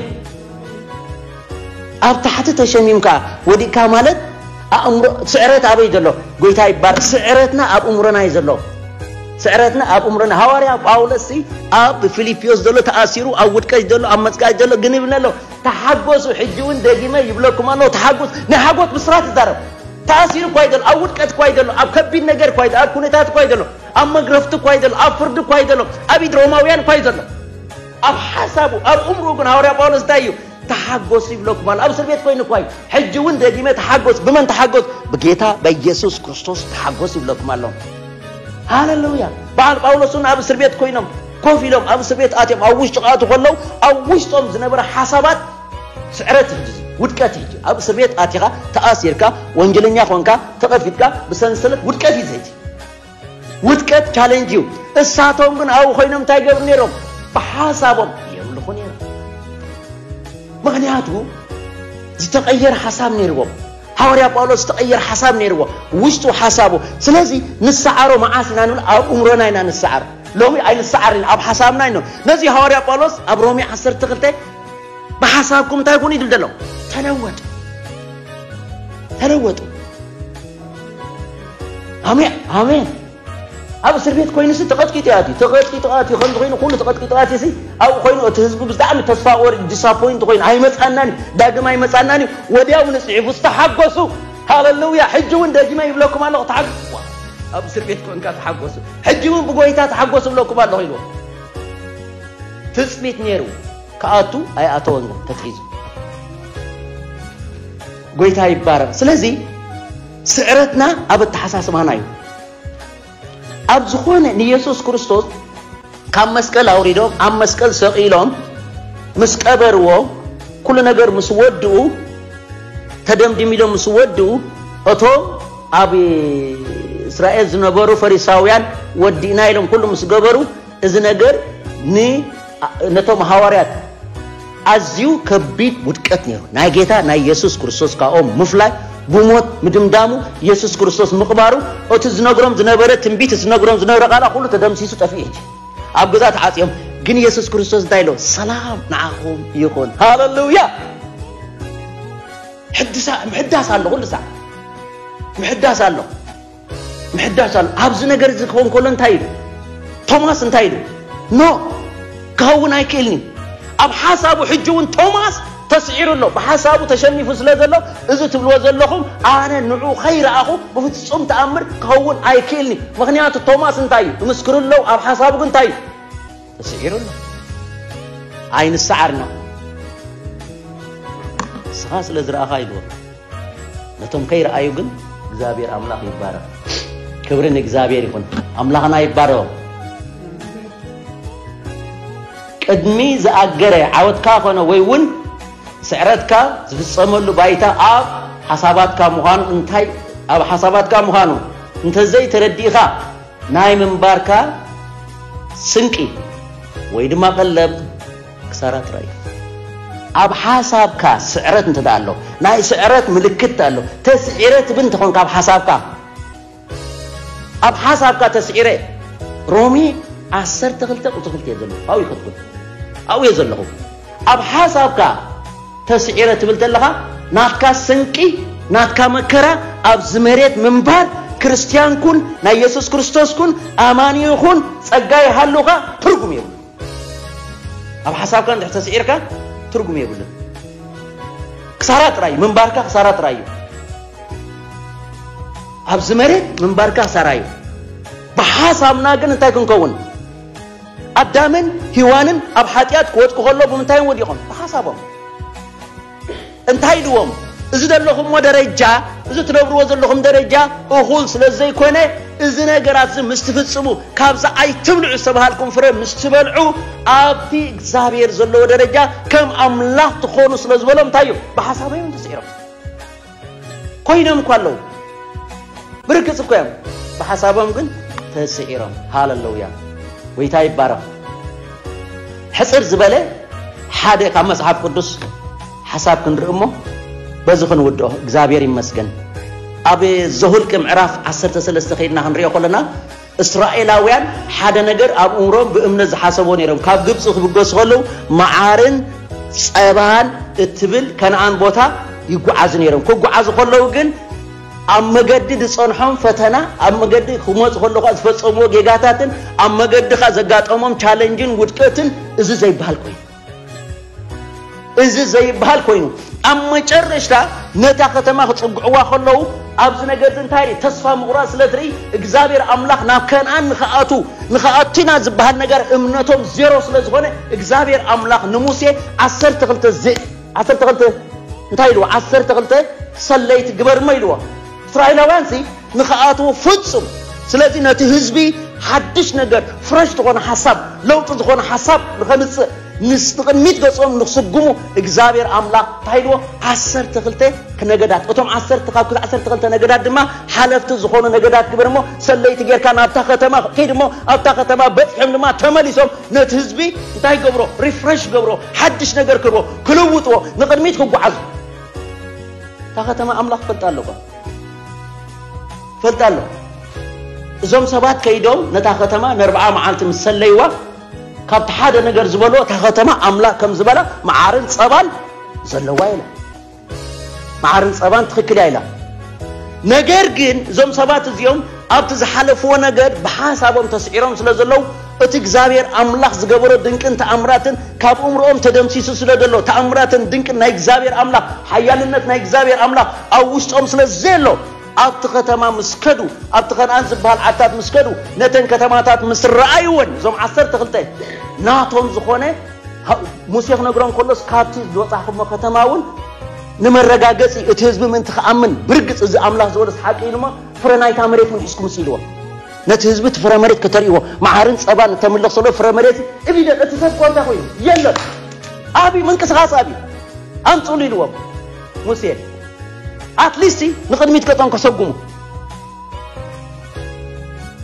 Speaker 1: ኣብ ታሕቲ ተሸሚምካ ወዲቅካ ማለት ኣእምሮ ስዕረት ኣበይ ዘሎ ጎይታ ይባር ስዕረትና ኣብ እምሮና እዩ ዘሎ ስዕረትና ኣብ እምሮና ሃዋርያ ጳውሎስ ኣብ ፊልጵዮስ ዘሎ ተኣሲሩ ኣብ ውድቀት ዘሎ ኣብ መጽቃጭ ዘሎ ግን ይብለሎ ተሓጎሱ ሕጂ ውን ደጊመ ይብለኩም ኣለኩ ተሓጎሱ ናይ ሓጎት ብስራት ይዛረብ ተኣሲሩ እኳ እዩ ዘሎ ኣብ ውድቀት እኳ እዩ ዘሎ ኣብ ከቢድ ነገር እኳ እዩ ኣብ ኩነታት እኳ እዩ ዘሎ ኣብ መግረፍቲ እኳ እዩ ዘሎ ኣብ ፍርዲ እኳ እዩ ዘሎ ኣብ ኢድ ሮማውያን እኳ እዩ ዘሎ ኣብ ሓሳቡ ኣብ እምርኡ ግን ሃዋርያ ጳውሎስ እንታይ እዩ ተሓጎሱ ይብለኩም ኣሎ ኣብ እስር ቤት ኮይኑ እኳ እዩ ሕጂ እውን ደጊመ ተሓጎስ ብመን ተሓጎስ ብጌታ በኢየሱስ ክርስቶስ ተሓጎስ ይብለኩም ኣሎ ሃለሉያ በዓል ጳውሎስ እውን ኣብ እስር ቤት ኮይኖም ኮፍ ኢሎም ኣብ እስርቤት ኣትዮም ኣብ ውሽጢ ክኣትዉ ከለዉ ኣብ ውሽጦም ዝነበረ ሓሳባት ስዕረት እዩ ሕጂ ውድቀት እዩ ሕጂ ኣብ እስርቤት ኣቲኻ ተኣሲርካ ወንጀለኛ ኮንካ ተቐፊጥካ ብሰንሰለት ውድቀት እዩ ዘይቲ ውድቀት ቻሌንጅ እዩ እሳቶም ግን ኣብኡ ኮይኖም እንታይ ገብሩ ነይሮም ብሓሳቦም የምልኹ ነይሮም ምክንያቱ ዝተቐየረ ሓሳብ ነይርዎም ሃዋርያ ጳውሎስ ዝተቐየር ሓሳብ ነይርዎ ውሽጡ ሓሳቡ ስለዚ ንሰዓሮ መዓስ ኢና ንብል ኣብ እምሮና ኢና ንሰዓር ሎሚ ኣይንሰዓርን ኣብ ሓሳብና ይኖ ነዚ ሃዋርያ ጳውሎስ ኣብ ሮሜ 12 ብሓሳብኩም እንታይ ኩኑ ይብል ዘሎ ተለወጡ ተለወጡ ኣሜን ኣሜን ኣብ እስር ቤት ኮይኑሲ ተቐጥቂጡ ኣትዩ ተቐጥቂጡ ኣትዩ ከምዚ ኮይኑ ኩሉ ተቐጥቂጡ ኣትዩሲ ኣብኡ ኮይኑ እቲ ህዝቢ ብጣዕሚ ተስፋ ቆሪጡ ዲሳፖይንት ኮይኑ ኣይመፃናን ዳግም ኣይመፃናን እዩ ወዲያው ንፅሒፉ ዝተሓጎሱ ሃለሉያ ሕጂ እውን ደጊመ ይብለኩም ኣለኹ ተሓጎስዋ ኣብ እስር ቤት ኮንካ ተሓጎሱ ሕጂ እውን ብጎይታ ተሓጎሱ ብለኩም ኣለኹ ኢልዎ ትፅቢት ነይሩ ክኣቱ ኣይኣተወን ግን ተትሒዙ ጎይታ ይባረር ስለዚ ስዕረትና ኣብ ኣተሓሳስባና እዩ። ኣብ ዝኾነ ንየሱስ ክርስቶስ ካብ መስቀል ኣውሪዶም ኣብ መስቀል ሰቒሎም ምስ ቀበርዎ ኩሉ ነገር ምስ ወድኡ ተደምድም ኢሎም ምስ ወድኡ እቶም ኣብ እስራኤል ዝነበሩ ፈሪሳውያን ወዲእና ኢሎም ኩሉ ምስ ገበሩ እዚ ነገር ን ነቶም ሃዋርያት ኣዝዩ ከቢድ ውድቀት ነይሩ። ናይ ጌታ ናይ የሱስ ክርስቶስ ካብኦም ምፍላይ፣ ብሞት ምድምዳሙ፣ የሱስ ክርስቶስ ምቕባሩ፣ እቲ ዝነግሮም ዝነበረ ትንቢት፣ እቲ ዝነግሮም ዝነበረ ቃላ ኩሉ ተደምሲሱ ጠፊኡ እቲ ኣብ ገዛ ተዓጽዮም ግን የሱስ ክርስቶስ እንታይ ኢሎ ሰላም ንዓኹም ይኹን ሃለሉያ ሕድሳ ምሕዳስ ኣሎ ኩሉ ሳዕ ምሕዳስ ኣሎ ምሕዳስ ኣሎ ኣብዚ ነገር እዚ ክኸውን ከሎ እንታይ ኢሉ ቶማስ እንታይ ኢሉ ኖ ክኸውን ኣይክእልን እዩ ኣብ ሓሳቡ ሕጂ እውን ቶማስ ተስዒሩ ኣሎ ብሓሳቡ ተሸኒፉ ስለ ዘሎ እዚ ትብልዎ ዘለኹም ኣነ ንዑ ከይረኣኹ ብፍጹም ተኣምር ክኸውን ኣይክእልኒ ምክንያቱ ቶማስ እንታይ እዩ ይምስክሩ ኣለዉ ኣብ ሓሳቡ ግን እንታይ እዩ ተስዒሩ ኣሎ ኣይንሰዓርና ንስኻ ስለ ዝረኣኻ ኢልዎ ነቶም ከይረኣዩ ግን እግዚኣብሔር ኣምላኽ ይባረኽ። ክብሪ ንእግዚኣብሔር ይኹን። ኣምላኽና ይባረኹ። ቅድሚ ዝኣገረ ዓወትካ ኮነ ወይ እውን ስዕረትካ ዝፍፀመሉ ባይታ ኣብ ሓሳባትካ ምዃኑ እንታይ ኣብ ሓሳባትካ ምዃኑ እንተዘይ ተረዲእኻ ናይ ምንባርካ ስንቂ ወይ ድማ ቀለብ ክሳራ ጥራይ እዩ። ኣብ ሓሳብካ ስዕረት እንተ ኣሎ፣ ናይ ስዕረት ምልክት እንተ ኣሎ፣ ተስዒረ ትብል እንተ ኾንካ ኣብ ሓሳብካ፣ ኣብ ሓሳብካ ተስዒረ፣ ሮሜ ዓሰርተ ክልተ ቁጽሪ ክልተ እየ ዘለኹ፣ ኣብኡ ይኸትኩን፣ ኣብኡ እየ ዘለኹ። ኣብ ሓሳብካ ተስዒረ ትብል ተለኻ፣ ናትካ ስንቂ፣ ናትካ መከራ፣ ኣብዚ መሬት ምንባር፣ ክርስትያን ኩን፣ ናይ የሱስ ክርስቶስ ኩን፣ ኣማኒ ኹን፣ ጸጋ ይሃሉኻ፣ ትርጉም የብሉን። ኣብ ሓሳብካ እንድሕር ተስዒርካ ትርጉም የብሉን። ክሳራ ጥራይ ምንባርካ ክሳራ ጥራይ እዩ። ኣብዚ መሬት ምንባርካ ክሳራ እዩ። ብሓሳብና ግን እንታይ ክንከውን ኣዳምን ሂዋንን ኣብ ሓጢኣት ክወድቁ ከሎ ብምንታይም ወዲቖም ብሓሳቦም እንታይ ኢልዎም እዚ ዘለኹሞ ደረጃ እዚ ትነብርዎ ዘለኹም ደረጃ እኹል ስለ ዘይኮነ እዚ ነገራት እዚ ምስ ትፍጽሙ ካብዚ ኣይትብልዑ ዝተባሃልኩም ፍረ ምስ ትበልዑ ኣብቲ እግዚኣብሔር ዘለዎ ደረጃ ከም ኣምላኽ ትኾኑ ስለ ዝበሎም እንታይ እዩ ብሓሳቦም ተስዒሮም ኮይኖም እኳ ኣለዉ ብርግጽ እኮ እዮም ብሓሳቦም ግን ተስዒሮም ሃለለውያ ወይታ ይባረኽ ሕጽር ዝበለ ሓደ ካብ መጽሓፍ ቅዱስ ሓሳብ ክንርኢ እሞ በዚ ክንውድኦ እግዚኣብሔር ይመስገን ኣብ ዘሁልቅ ምዕራፍ 13 ከይድና ክንሪኦ ከለና እስራኤላውያን ሓደ ነገር ኣብ እምሮም ብእምነት ዝሓሰብዎ ነይሮም። ካብ ግብፂ ክብገሱ ከለዉ መዓርን ፀባን እትብል ከነኣን ቦታ ይጓዓዙ ነይሮም። ክጓዓዙ ከለዉ ግን ኣብ መገዲ ዝፀንሖም ፈተና፣ ኣብ መገዲ ክመፁ ከለዉ ከዓ ዝፈፀምዎ ጌጋታትን ኣብ መገዲ ከዓ ዘጋጠሞም ቻለንጅን ውድቀትን እዚ ዘይበሃል ኮይኑ እዚ ዘይብሃል ኮይኑ ኣብ መጨረሽታ ነታ ከተማ ክጽግዕዋ ከለዉ ኣብዚ ነገር እዚ እንታይ ርኢ ተስፋ ምቑራጽ ስለ ትርኢ እግዚኣብሔር ኣምላኽ ናብ ከነኣን ንክኣቱ ንክኣቱና ዝበሃል ነገር እምነቶም ዜሮ ስለ ዝኾነ እግዚኣብሔር ኣምላኽ ንሙሴ ዓሰርተ ክልተ ዓሰርተ ክልተ እንታይ ኢልዎ ዓሰርተ ክልተ ሰለይቲ ግበርሞ ኢልዎ እስራኤላውያንሲ ንክኣትዉ ፍጹም ስለዚ ነቲ ህዝቢ ሓድሽ ነገር ፍረሽ ዝኾነ ሓሳብ ለውጢ ዝኾነ ሓሳብ ንኸምጽእ ምስ ንቕድሚት ገጾም ንክስጉሙ እግዚኣብሔር ኣምላኽ እንታይ ኢልዎ ዓሰርተ ክልተ ነገዳት እቶም ዓሰርተ ካብ ክልተ ዓሰርተ ክልተ ነገዳት ድማ ሓለፍቲ ዝኾኑ ነገዳት ግበር እሞ ሰለይቲ ጌርካ ናብታ ከተማ ከይድ እሞ ኣብታ ከተማ በፅሖም ድማ ተመሊሶም ነቲ ህዝቢ እንታይ ገብሮ ሪፍሬሽ ገብሮ ሓድሽ ነገር ክርቦ ክልውጥዎ ንቕድሚት ክጓዓዙ እታ ከተማ ኣምላኽ ፈልጣ ኣለኹ ፈልጣ ኣለኹ እዞም ሰባት ከይዶም ነታ ከተማ ንርብዓ መዓልቲ ምስ ሰለይዋ ካብቲ ሓደ ነገር ዝበልዎ እታ ከተማ ኣምላኽ ከም ዝበላ መዓርን ፀባን ዘለዋ ኢላ መዓርን ፀባን ትኽክል እያ ኢላ ነገር ግን እዞም ሰባት እዚኦም ኣብቲ ዝሓለፍዎ ነገር ብሓሳቦም ተስዒሮም ስለ ዘለዉ እቲ እግዚኣብሔር ኣምላኽ ዝገበሮ ድንቅን ተኣምራትን ካብ እምርኦም ተደምሲሱ ስለ ዘሎ ተኣምራትን ድንቅን ናይ እግዚኣብሔር ኣምላኽ ሓያልነት ናይ እግዚኣብሔር ኣምላኽ ኣብ ውሽጦም ስለ ዘየሎ ኣብቲ ከተማ ምስ ከዱ ኣብቲ ከነኣን ዝበሃል ዓድታት ምስ ከዱ ነተን ከተማታት ምስ ረኣይወን እዞም ዓሰርተ ክልተ ናቶም ዝኾነ ሙሴ ክነግሮም ከሎስ ካብቲ ዝወፃኹሞ ከተማ እውን ንመረጋገፂ እቲ ህዝቢ ምእንቲ ክኣምን ብርግፅ እዚ ኣምላኽ ዝበሎስ ሓቂ ኢሉሞ ፍረ ናይታ መሬት ምሕዝኩም ሲኢልዎም ነቲ ህዝቢ እቲ ፍረ መሬት ከተርእዎ መዓርን ጸባን እተምልኽ ዘሎ ፍረ መሬት እብደ እቲ ሰብ ኮንታ ኮይኑ የለን ኣብዩ ምንቅስቓስ ኣብዩ ኣምጽሉ ኢልዎም ሙሴ ኣትሊስቲ ንቕድሚት ገጾም ከሰጉሙ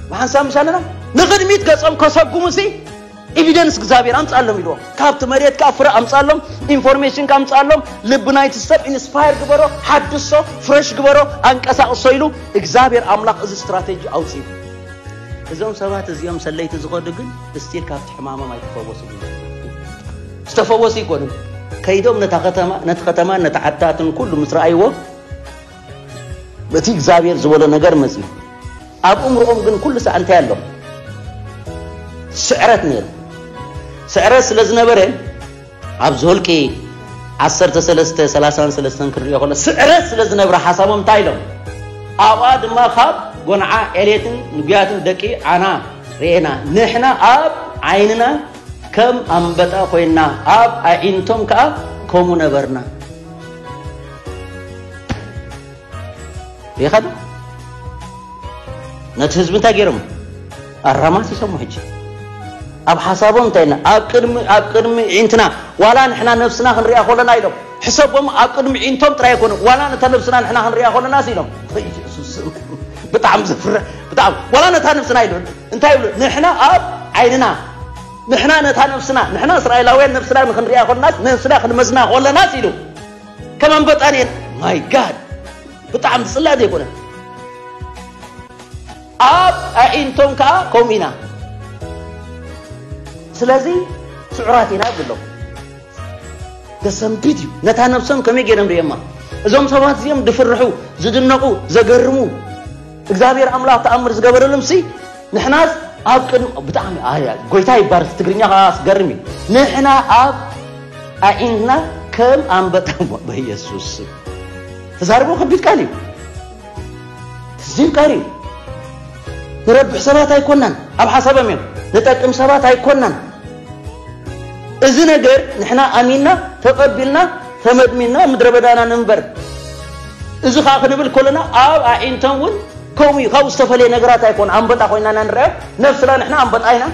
Speaker 1: ብሓንሳብ ምሻለና ንቕድሚት ገጾም ከሰጉሙ ሲ ኢቪደንስ እግዚኣብሔር ኣምፅኣሎም ኢልዎም ካብቲ መሬት ከዓ ፍረ ኣምፅኣሎም ኢንፎርሜሽን ካብ ኣምፅኣሎም ልቢ ናይቲ ሰብ ኢንስፓየር ግበሮ ሓድሶ ፍረሽ ግበሮ ኣንቀሳቕሶ ኢሉ እግዚኣብሔር ኣምላኽ እዚ ስትራቴጂ ኣውፅኡ እዞም ሰባት እዚኦም ሰለይቲ ዝኸዱ ግን እስቲል ካብቲ ሕማሞም ኣይተፈወሱ ዝተፈወሱ ይኮኑ ከይዶም ነታ ከተማ ነቲ ከተማ ነቲ ዓድታትን ኩሉ ምስ ረኣይዎ በቲ እግዚኣብሔር ዝበሎ ነገር መጺኡ ኣብ እምሮኦም ግን ኩሉ ሰዓት እንታይ ኣሎ ስዕረት ነይሩ ስዕረት ስለ ዝነበረ ኣብ ዝወልቂ ዓሰርተ ሰለስተ ሰላሳን ሰለስተን ክንሪኦ ከሎ ስዕረት ስለ ዝነብረ ሓሳቦም እንታይ ኢሎም ኣብኣ ድማ ካብ ጎንዓ ዕሌትን ንጉያትን ደቂ ዓና ርኤና ንሕና ኣብ ዓይንና ከም ኣንበጣ ኮይና ኣብ ኣዒንቶም ከዓ ከምኡ ነበርና ይኸዱ ነቲ ህዝቢ እንታይ ገይሮም ኣራማት ይሰሙ ሕጂ ኣብ ሓሳቦም እንታይ ና ኣብ ቅድሚ ኣብ ቅድሚ ዒንትና ዋላ ንሕና ነብስና ክንሪኣ ከለና ኢሎም ሕሰቦም ኣብ ቅድሚ ዒንቶም ጥራይ ኣይኮነ ዋላ ነታ ነብስና ንሕና ክንሪኣ ከለና ሲ ኢሎም ኢየሱስ ብጣዕሚ ዘፍርሕ ብጣዕሚ ዋላ ነታ ነብስና ኢሉ እንታይ ይብሉ ንሕና ኣብ ዓይንና ንሕና ነታ ነብስና ንሕና እስራኤላውያን ነብስና ንክንሪኣ ከለናስ ነብስና ክንመዝና ከለናስ ኢሉ ከም ኣንበጣ ነይረ ማይ ጋድ ብጣዕሚ ዝፅላእ ዘይኮነ ኣብ ኣዒንቶም ከዓ ከምኡ ኢና ስለዚ ስዑራት ኢና ብሎ ዘሰንብድ እዩ ነታ ነብሶም ከመይ ገይሮም ርእዮማ እዞም ሰባት እዚኦም ዝፍርሑ ዝድነቑ ዘገርሙ እግዚኣብሔር ኣምላኽ ተኣምር ዝገበረሎም ሲ ንሕናስ ኣብ ቅድሚ ብጣዕሚ ኣያ ጎይታ ይባርክ ትግርኛ ከኣ ኣስገርም እዩ ንሕና ኣብ ኣዒንትና ከም ኣንበጣ በየሱስ ተዛርቦ ከቢድ ቃል እዩ ትዝብ ቃል እዩ ንረብሕ ሰባት ኣይኮናን ኣብ ሓሳቦም እዮም ንጠቅም ሰባት ኣይኮናን እዚ ነገር ንሕና ኣሚንና ተቐቢልና ተመድሚና ምድረ በዳና ንንበር እዚ ከኣ ክንብል ከሎና ኣብ ኣዒንተን እውን ከምኡ እዩ ካብኡ ዝተፈለየ ነገራት ኣይኮነ ኣንበጣ ኮይና ኢና ንርኣዮ ነፍስና ንሕና ኣንበጣ ኢና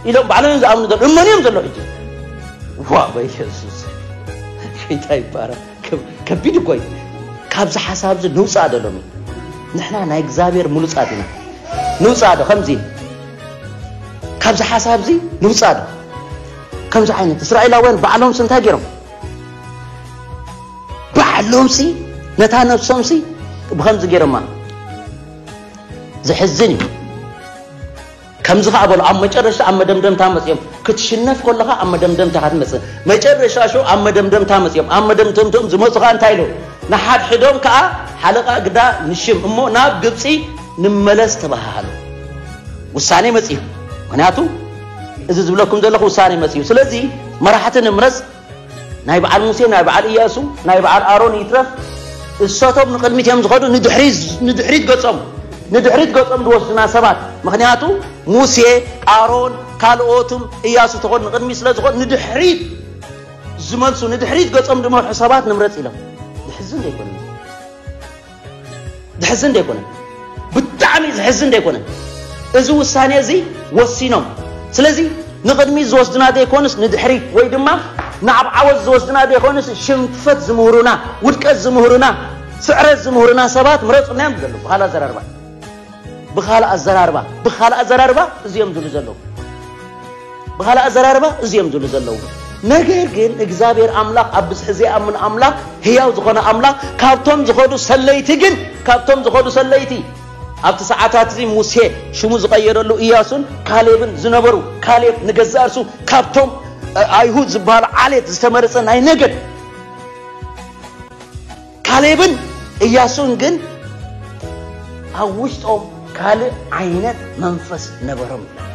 Speaker 1: ኢሎም ባዕሎም እዮም ዝኣምኑ ዘሎ እመን እዮም ዘሎ ሕጂ ዋ በየሱስ ጌታ ይባረክ ከቢድ እኮ እዩ ካብዚ ሓሳብ እዚ ንውፃእ ዶ ሎሚ ንሕና ናይ እግዚኣብሔር ምሉፃት ኢና ንውፃእ ዶ ከምዚ ካብዚ ሓሳብ እዚ ንውፃእ ዶ ከምዚ ዓይነት እስራኤላውያን ባዕሎምስ እንታይ ገይሮም ባዕሎምሲ ነታ ነብሶምሲ ብኸምዚ ገይሮማ ዘሕዝን እዩ ከምዚ ከዓ በሉ ኣብ መጨረሻ ኣብ መደምደምታ መፅኦም ክትሽነፍ ከለኻ ኣብ መደምደምታ ካ ትመፅእ መጨረሻ ሸው ኣብ መደምደምታ መፅኦም ኣብ መደምደምቶም ዝመፁ ከዓ እንታይ ኢሉ ንሓድሕዶም ከዓ ሓለቓ ግዳ ንሽም እሞ ናብ ግብፂ ንመለስ ተባሃሃሉ ውሳኔ መፅኡ ምክንያቱ እዚ ዝብለኩም ዘለኹ ውሳኔ መፅኡ ስለዚ መራሕቲ ንምረፅ ናይ በዓል ሙሴ ናይ በዓል እያሱ ናይ በዓል ኣሮን ይትረፍ እሰቶም ንቕድሚት እዮም ዝኸዱ ንድሕሪት ገጾም ንድሕሪት ገጾም ዝወስዱና ሰባት ምክንያቱ ሙሴ ኣሮን ካልኦትም እያሱ ተኾን ንቕድሚት ስለ ዝኾን ንድሕሪት ዝመልሱ ንድሕሪት ገጾም ዝመርሑ ሰባት ንምረጽ ኢሎም ዝሕዝን ዘይኮነ ዝሕዝን ዶ ኣይኮነን? ብጣዕሚ ዝሕዝን ዶ ኣይኮነን? እዚ ውሳኔ እዚ ወሲኖም ስለዚ ንቕድሚት ዝወስድና ዶ ኣይኮንስ ንድሕሪት ወይ ድማ ናብ ዓወት ዝወስድና ዶ ኣይኮንስ ሽንፈት ዝምህሩና ውድቀት ዝምህሩና ስዕረት ዝምህሩና ሰባት ምረፁና እዮም ዝደለዉ በሃሊ ኣዘራርባ ብኻልእ ኣዘራርባ ብኻልእ ኣዘራርባ እዚኦም ዝብሉ ዘለዉ ብኻልእ ኣዘራርባ እዚኦም ዝብሉ ዘለዉ ነገር ግን እግዚኣብሔር ኣምላኽ ኣብ ብዝሒ ዘይኣምን ኣምላኽ ህያው ዝኾነ ኣምላኽ ካብቶም ዝኸዱ ሰለይቲ ግን ካብቶም ዝኸዱ ሰለይቲ ኣብቲ ሰዓታት እዚ ሙሴ ሽሙ ዝቐየረሉ እያሱን ካሌብን ዝነበሩ ካሌብ ንገዛእ እርሱ ካብቶም ኣይሁድ ዝበሃሉ ዓሌት ዝተመረፀ ናይ ነገድ ካሌብን እያሱን ግን ኣብ ውሽጦም ካልእ ዓይነት መንፈስ ነበሮም ይላል።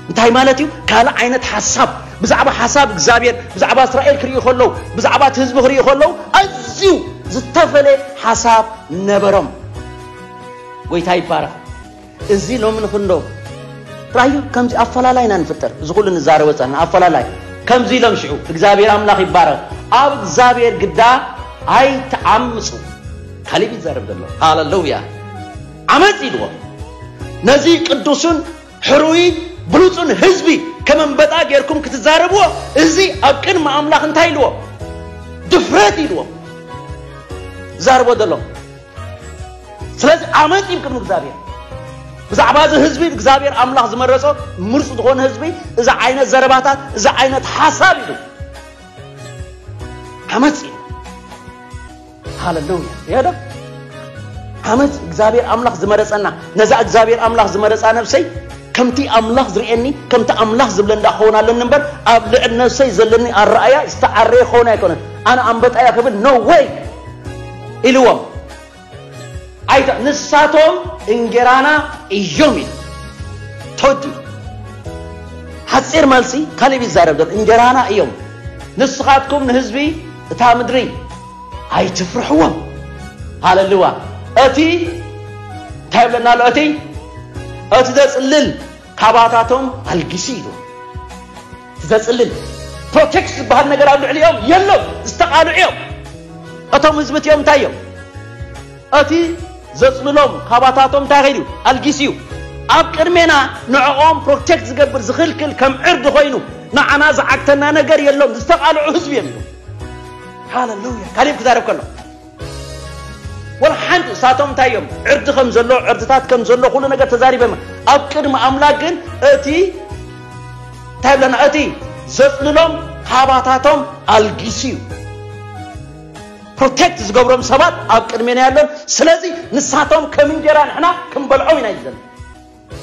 Speaker 1: እንታይ ማለት እዩ? ካልእ ዓይነት ሓሳብ ብዛዕባ ሓሳብ እግዚኣብሔር ብዛዕባ እስራኤል ክርእዩ ከለዉ ብዛዕባ እቲ ህዝቢ ክርእዩ ከለዉ ኣዝዩ ዝተፈለየ ሓሳብ ነበሮም። ጎይታ ይባረኽ። እዚ ሎሚ ንክንዶ ራዩ ከምዚ ኣፈላላይ ኢና ንፍጠር እዚ ኩሉ ንዛረ ወፃና ኣፈላላይ ከምዚ ኢሎም ሽዑ እግዚኣብሔር ኣምላኽ ይባረኽ ኣብ እግዚኣብሔር ግዳ ኣይትዓምፁ ካሊብ ይዛረብ ዘሎ ሃለሉያ ዓመፅ ኢልዎ ነዚ ቅዱሱን ሕሩይ ብሉፁን ህዝቢ ከመንበጣ ጌርኩም ክትዛረብዎ እዚ ኣብ ቅድሚ ኣምላኽ እንታይ ኢልዎ ድፍረት ኢልዎ ዛርቦ ዘሎ ስለዚ ዓመፅ እዩ ቅድሚ እግዚኣብሔር ብዛዕባ እዚ ህዝቢ እግዚኣብሔር ኣምላኽ ዝመረጾ ምርፅ ዝኾነ ህዝቢ እዚ ዓይነት ዘረባታት እዚ ዓይነት ሓሳብ እዩ ዓመፅ እዩ ሃለሉያ ያደ ዓመፅ እግዚኣብሔር ኣምላኽ ዝመረፀና ነዛ እግዚኣብሔር ኣምላኽ ዝመረፃ ነብሰይ ከምቲ ኣምላኽ ዝርእየኒ ከምቲ ኣምላኽ ዝብለ እንዳ ክኸውን ኣለኒ እምበር ኣብ ልዕል ነብሰይ ዘለኒ ኣረኣያ ዝተዓረየ ክኸውን ኣይኮነን ኣነ ኣንበጣያ ክብል ኖ ወይ ኢልዎም ኣይተ ንሳቶም እንጌራና እዮም ኢሉ ቶዲ ሓጺር መልሲ ካሊብ ይዛረብ ዘሎ እንጌራና እዮም ንስኻትኩም ንህዝቢ እታ ምድሪ ኣይትፍርሕዎም ሃለልዋ እቲ እንታይ ብለና ኣሎ እቲ እቲ ዘጽልል ካባታቶም ኣልጊሲ ኢሉ ዘጽልል ፕሮቴክት ዝበሃል ነገር ኣብ ልዕሊኦም የሎን ዝተቃልዑ እዮም እቶም ህዝቢ እቲኦም እንታይ እዮም እቲ ዘጽልሎም ካባታቶም እንታይ ኸይዱ እዩ ኣልጊሱ እዩ ኣብ ቅድሜና ንዕኦም ፕሮቴክት ዝገብር ዝኽልክል ከም ዕርዲ ኮይኑ ንዓና ዝዓግተና ነገር የሎን ዝተቃልዑ ህዝቢ እዮም ኢሉ ሃለሉያ ካሊብ ክዛረብ ከሎ ወላ ሓንቲ እሳቶም እንታይ እዮም ዕርዲ ከም ዘሎ ዕርድታት ከም ዘሎ ኩሉ ነገር ተዛሪበም ኣብ ቅድሚ ኣምላክ ግን እቲ እንታይ ብለና እቲ ዘፅልሎም ካባታቶም ኣልጊሱ እዩ ፕሮቴክት ዝገብሮም ሰባት ኣብ ቅድሜና ያሎን ስለዚ ንሳቶም ከም እንጀራ ንሕና ክንበልዖም ኢና እዩ ዘሎ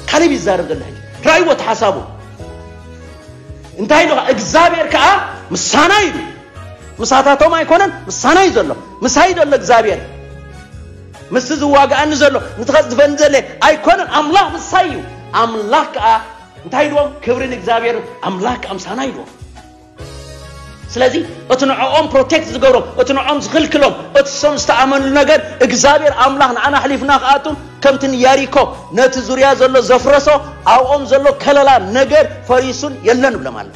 Speaker 1: ካሌብ ይዛረብ ዘሎ ሕጂ ራእይዎ እቲ ሓሳቡ እንታይ ኢሉ እግዚኣብሔር ከዓ ምሳና ኢሉ ምሳታቶም ኣይኮነን ምሳና እዩ ዘሎ ምሳይ ዘሎ እግዚኣብሔር ምስቲ ዝዋግኣኒ ዘሎ ንትኸፅድፈኒ ዘለ ኣይኮነን ኣምላኽ ምሳይ እዩ ኣምላኽ ከዓ እንታይ ኢልዎም ክብሪ ንእግዚኣብሔር ኣምላኽ ከዓ ምሳና ኢልዎም ስለዚ እቲ ንዕኦም ፕሮቴክት ዝገብሮም እቲ ንዕኦም ዝኽልክሎም እቲ ሰም ዝተኣመንሉ ነገር እግዚኣብሔር ኣምላኽ ንዓና ኣሕሊፍና ክኣቱ ከምቲ ንያሪኮ ነቲ ዙርያ ዘሎ ዘፍረሶ ኣብኦም ዘሎ ከለላ ነገር ፈሪሱን የለን ብሎም ኣሎ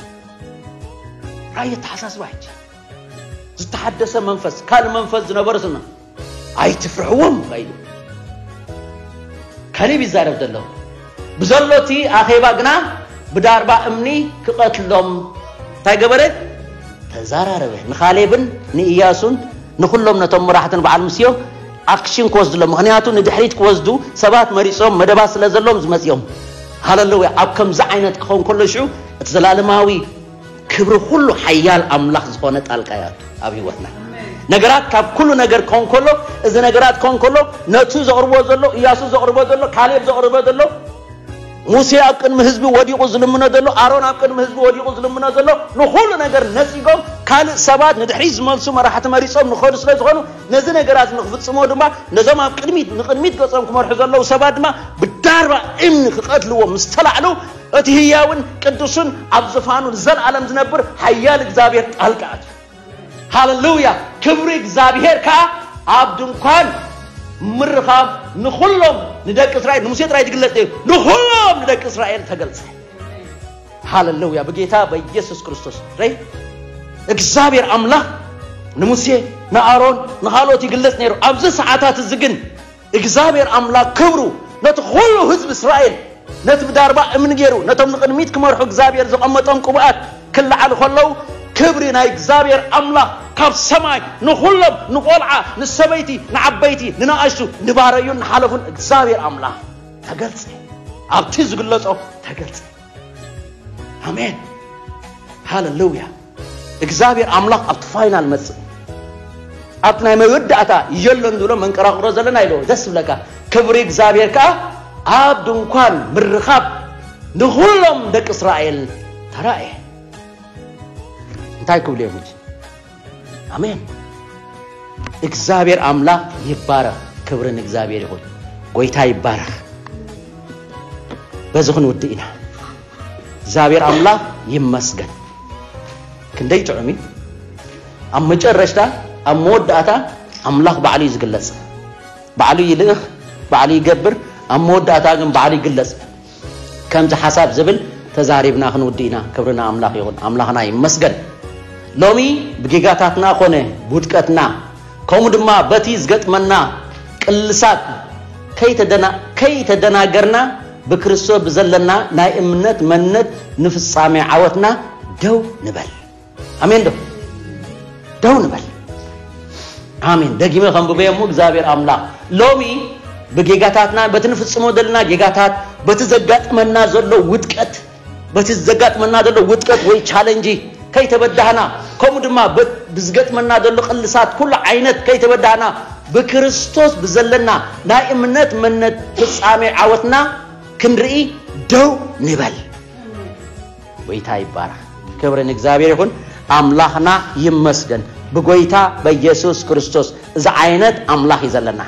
Speaker 1: ራእይ ኣተሓሳስባ ሕጂ ዝተሓደሰ መንፈስ ካልእ መንፈስ ዝነበረትና ኣይትፍርሕዎም ኢሉ ካሌብ ይዛረብ ዘሎ ብዘሎ እቲ ኣኼባ ግና ብዳርባ እምኒ ክቐትሎም እንታይ ገበረ ተዛራረበ ንካሌብን ንእያሱን ንኹሎም ነቶም መራሕትን በዓል ምስዮ ኣክሽን ክወስድሎም ምክንያቱ ንድሕሪት ክወስዱ ሰባት መሪፆም መደባት ስለ ዘለዎም ዝመፅኦም ሃለለወ ኣብ ከምዚ ዓይነት ክኸውን ከሎ ሽዑ እቲ ዘላለማዊ ክብሪ ኩሉ ሓያል ኣምላኽ ዝኾነ ጣልቃ ይኣቱ ኣብ ህይወትና ነገራት ካብ ኩሉ ነገር ክኸውን ከሎ እዚ ነገራት ክኸውን ከሎ ነቱ ዘቕርቦ ዘሎ እያሱ ዘቕርቦ ዘሎ ካሌብ ዘቕርቦ ዘሎ ሙሴ ኣብ ቅድሚ ህዝቢ ወዲቑ ዝልምኖ ዘሎ ኣሮን ኣብ ቅድሚ ህዝቢ ወዲቑ ዝልምኖ ዘሎ ንኹሉ ነገር ነፂጎም ካልእ ሰባት ንድሕሪ ዝመልሱ መራሕቲ መሪፆም ንኸዱ ስለ ዝኾኑ ነዚ ነገራት ንክፍፅሞ ድማ ነዞም ኣብ ቅድሚት ንቅድሚት ገፆም ክመርሑ ዘለዉ ሰባት ድማ ብዳርባ እምኒ ክቐትልዎም ምስ ተላዕሉ እቲ ህያውን ቅዱስን ኣብ ዝፋኑ ንዘልኣለም ዝነብር ሓያል እግዚኣብሔር ጣልቃ ኣትዩ ሃለሉያ ክብሪ እግዚኣብሔር ከዓ ኣብ ድንኳን ምርኻብ ንኹሎም ንደቂ እስራኤል ንሙሴ ጥራይ ዝግለጽ እዩ ንኹሎም ንደቂ እስራኤል ተገልጸ ሃለሉያ ብጌታ በኢየሱስ ክርስቶስ ረይ እግዚኣብሔር ኣምላኽ ንሙሴ ንኣሮን ንኻልኦት ይግለጽ ነይሩ ኣብዚ ሰዓታት እዚ ግን እግዚኣብሔር ኣምላክ ክብሩ ነቲ ኹሉ ህዝቢ እስራኤል ነቲ ብዳርባ እምኒ ገይሩ ነቶም ንቅድሚት ክመርሑ እግዚኣብሔር ዘቀመጦም ቅቡኣት ክለዓሉ ከለው ክብሪ ናይ እግዚኣብሔር ኣምላክ ካብ ሰማይ ንኹሎም ንቆልዓ ንሰበይቲ ንዓበይቲ ንናኣሽቱ ንባረዩን ንሓለፉን እግዚኣብሔር ኣምላክ ተገልጸ ኣብቲ ዝግለጾ ተገልጸ ኣሜን ሃለሉያ እግዚኣብሔር ኣምላኽ ኣብቲ ፋይናል መጽእ ኣብቲ ናይ መወዳእታ የሎን ዝብሎ መንቀራቕሮ ዘለና ኢሉ ደስ ዝብለካ ክብሪ እግዚኣብሔር ከዓ ኣብ ድንኳን ምርኻብ ንኹሎም ደቂ እስራኤል ተራእየ እንታይ ክብሉ እዮም እንጂ ኣሜን እግዚኣብሔር ኣምላኽ ይባረኽ ክብሪ ንእግዚኣብሔር ይኹን ጎይታ ይባረኽ በዚ ክንውድእ ኢና እግዚኣብሔር ኣምላክ ይመስገን ክንደይ ጥዑም እዩ ኣብ መጨረሽታ ኣብ መወዳእታ ኣምላክ ባዕሉ እዩ ዝግለጽ ባዕሉ ይልእኽ ባዕሉ ይገብር ኣብ መወዳእታ ግን ባዕሉ ይግለጽ ከምዚ ሓሳብ ዝብል ተዛሪብና ክንውዲ ኢና ክብርና ኣምላክ ይኹን ኣምላክና ይመስገን ሎሚ ብጌጋታትና ኮነ ብውድቀትና ከምኡ ድማ በቲ ዝገጥመና ቅልሳት ከይተደናገርና ብክርስቶስ ብዘለና ናይ እምነት መንነት ንፍጻሜ ዓወትና ደው ንበል። ኣሜን ዶ ደው ንበል። ኣሜን። ደጊመ ከንብበዮ እሞ እግዚኣብሔር ኣምላኽ ሎሚ ብጌጋታትና በቲ ንፍጽሞ ዘለና ጌጋታት በቲ ዘጋጥመና ዘሎ ውድቀት በቲ ዘጋጥመና ዘሎ ውድቀት ወይ ቻለንጂ ከይተበዳህና ከምኡ ድማ ብዝገጥመና ዘሎ ቅልሳት ኩሉ ዓይነት ከይተበዳህና ብክርስቶስ ብዘለና ናይ እምነት መነት ፍጻሜ ዓወትና ክንርኢ ደው ንበል። ጎይታ ይባረኽ። ክብሪ ንእግዚኣብሔር ይኹን። ኣምላኽና ይመስገን። ብጎይታ በኢየሱስ ክርስቶስ እዚ ዓይነት ኣምላኽ እዩ ዘለና።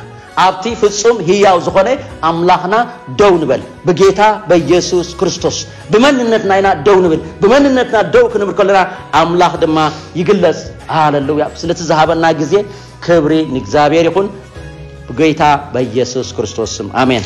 Speaker 1: ኣብቲ ፍጹም ህያው ዝኾነ ኣምላኽና ደው ንበል ብጌታ በየሱስ ክርስቶስ ብመንነትና ኢና ደው ንብል ብመንነትና ደው ክንብል ከለና ኣምላኽ ድማ ይግለጽ ሃለሉያ ስለቲ ዝሃበና ግዜ ክብሪ ንእግዚኣብሔር ይኹን ብጌታ በየሱስ ክርስቶስ ስም ኣሜን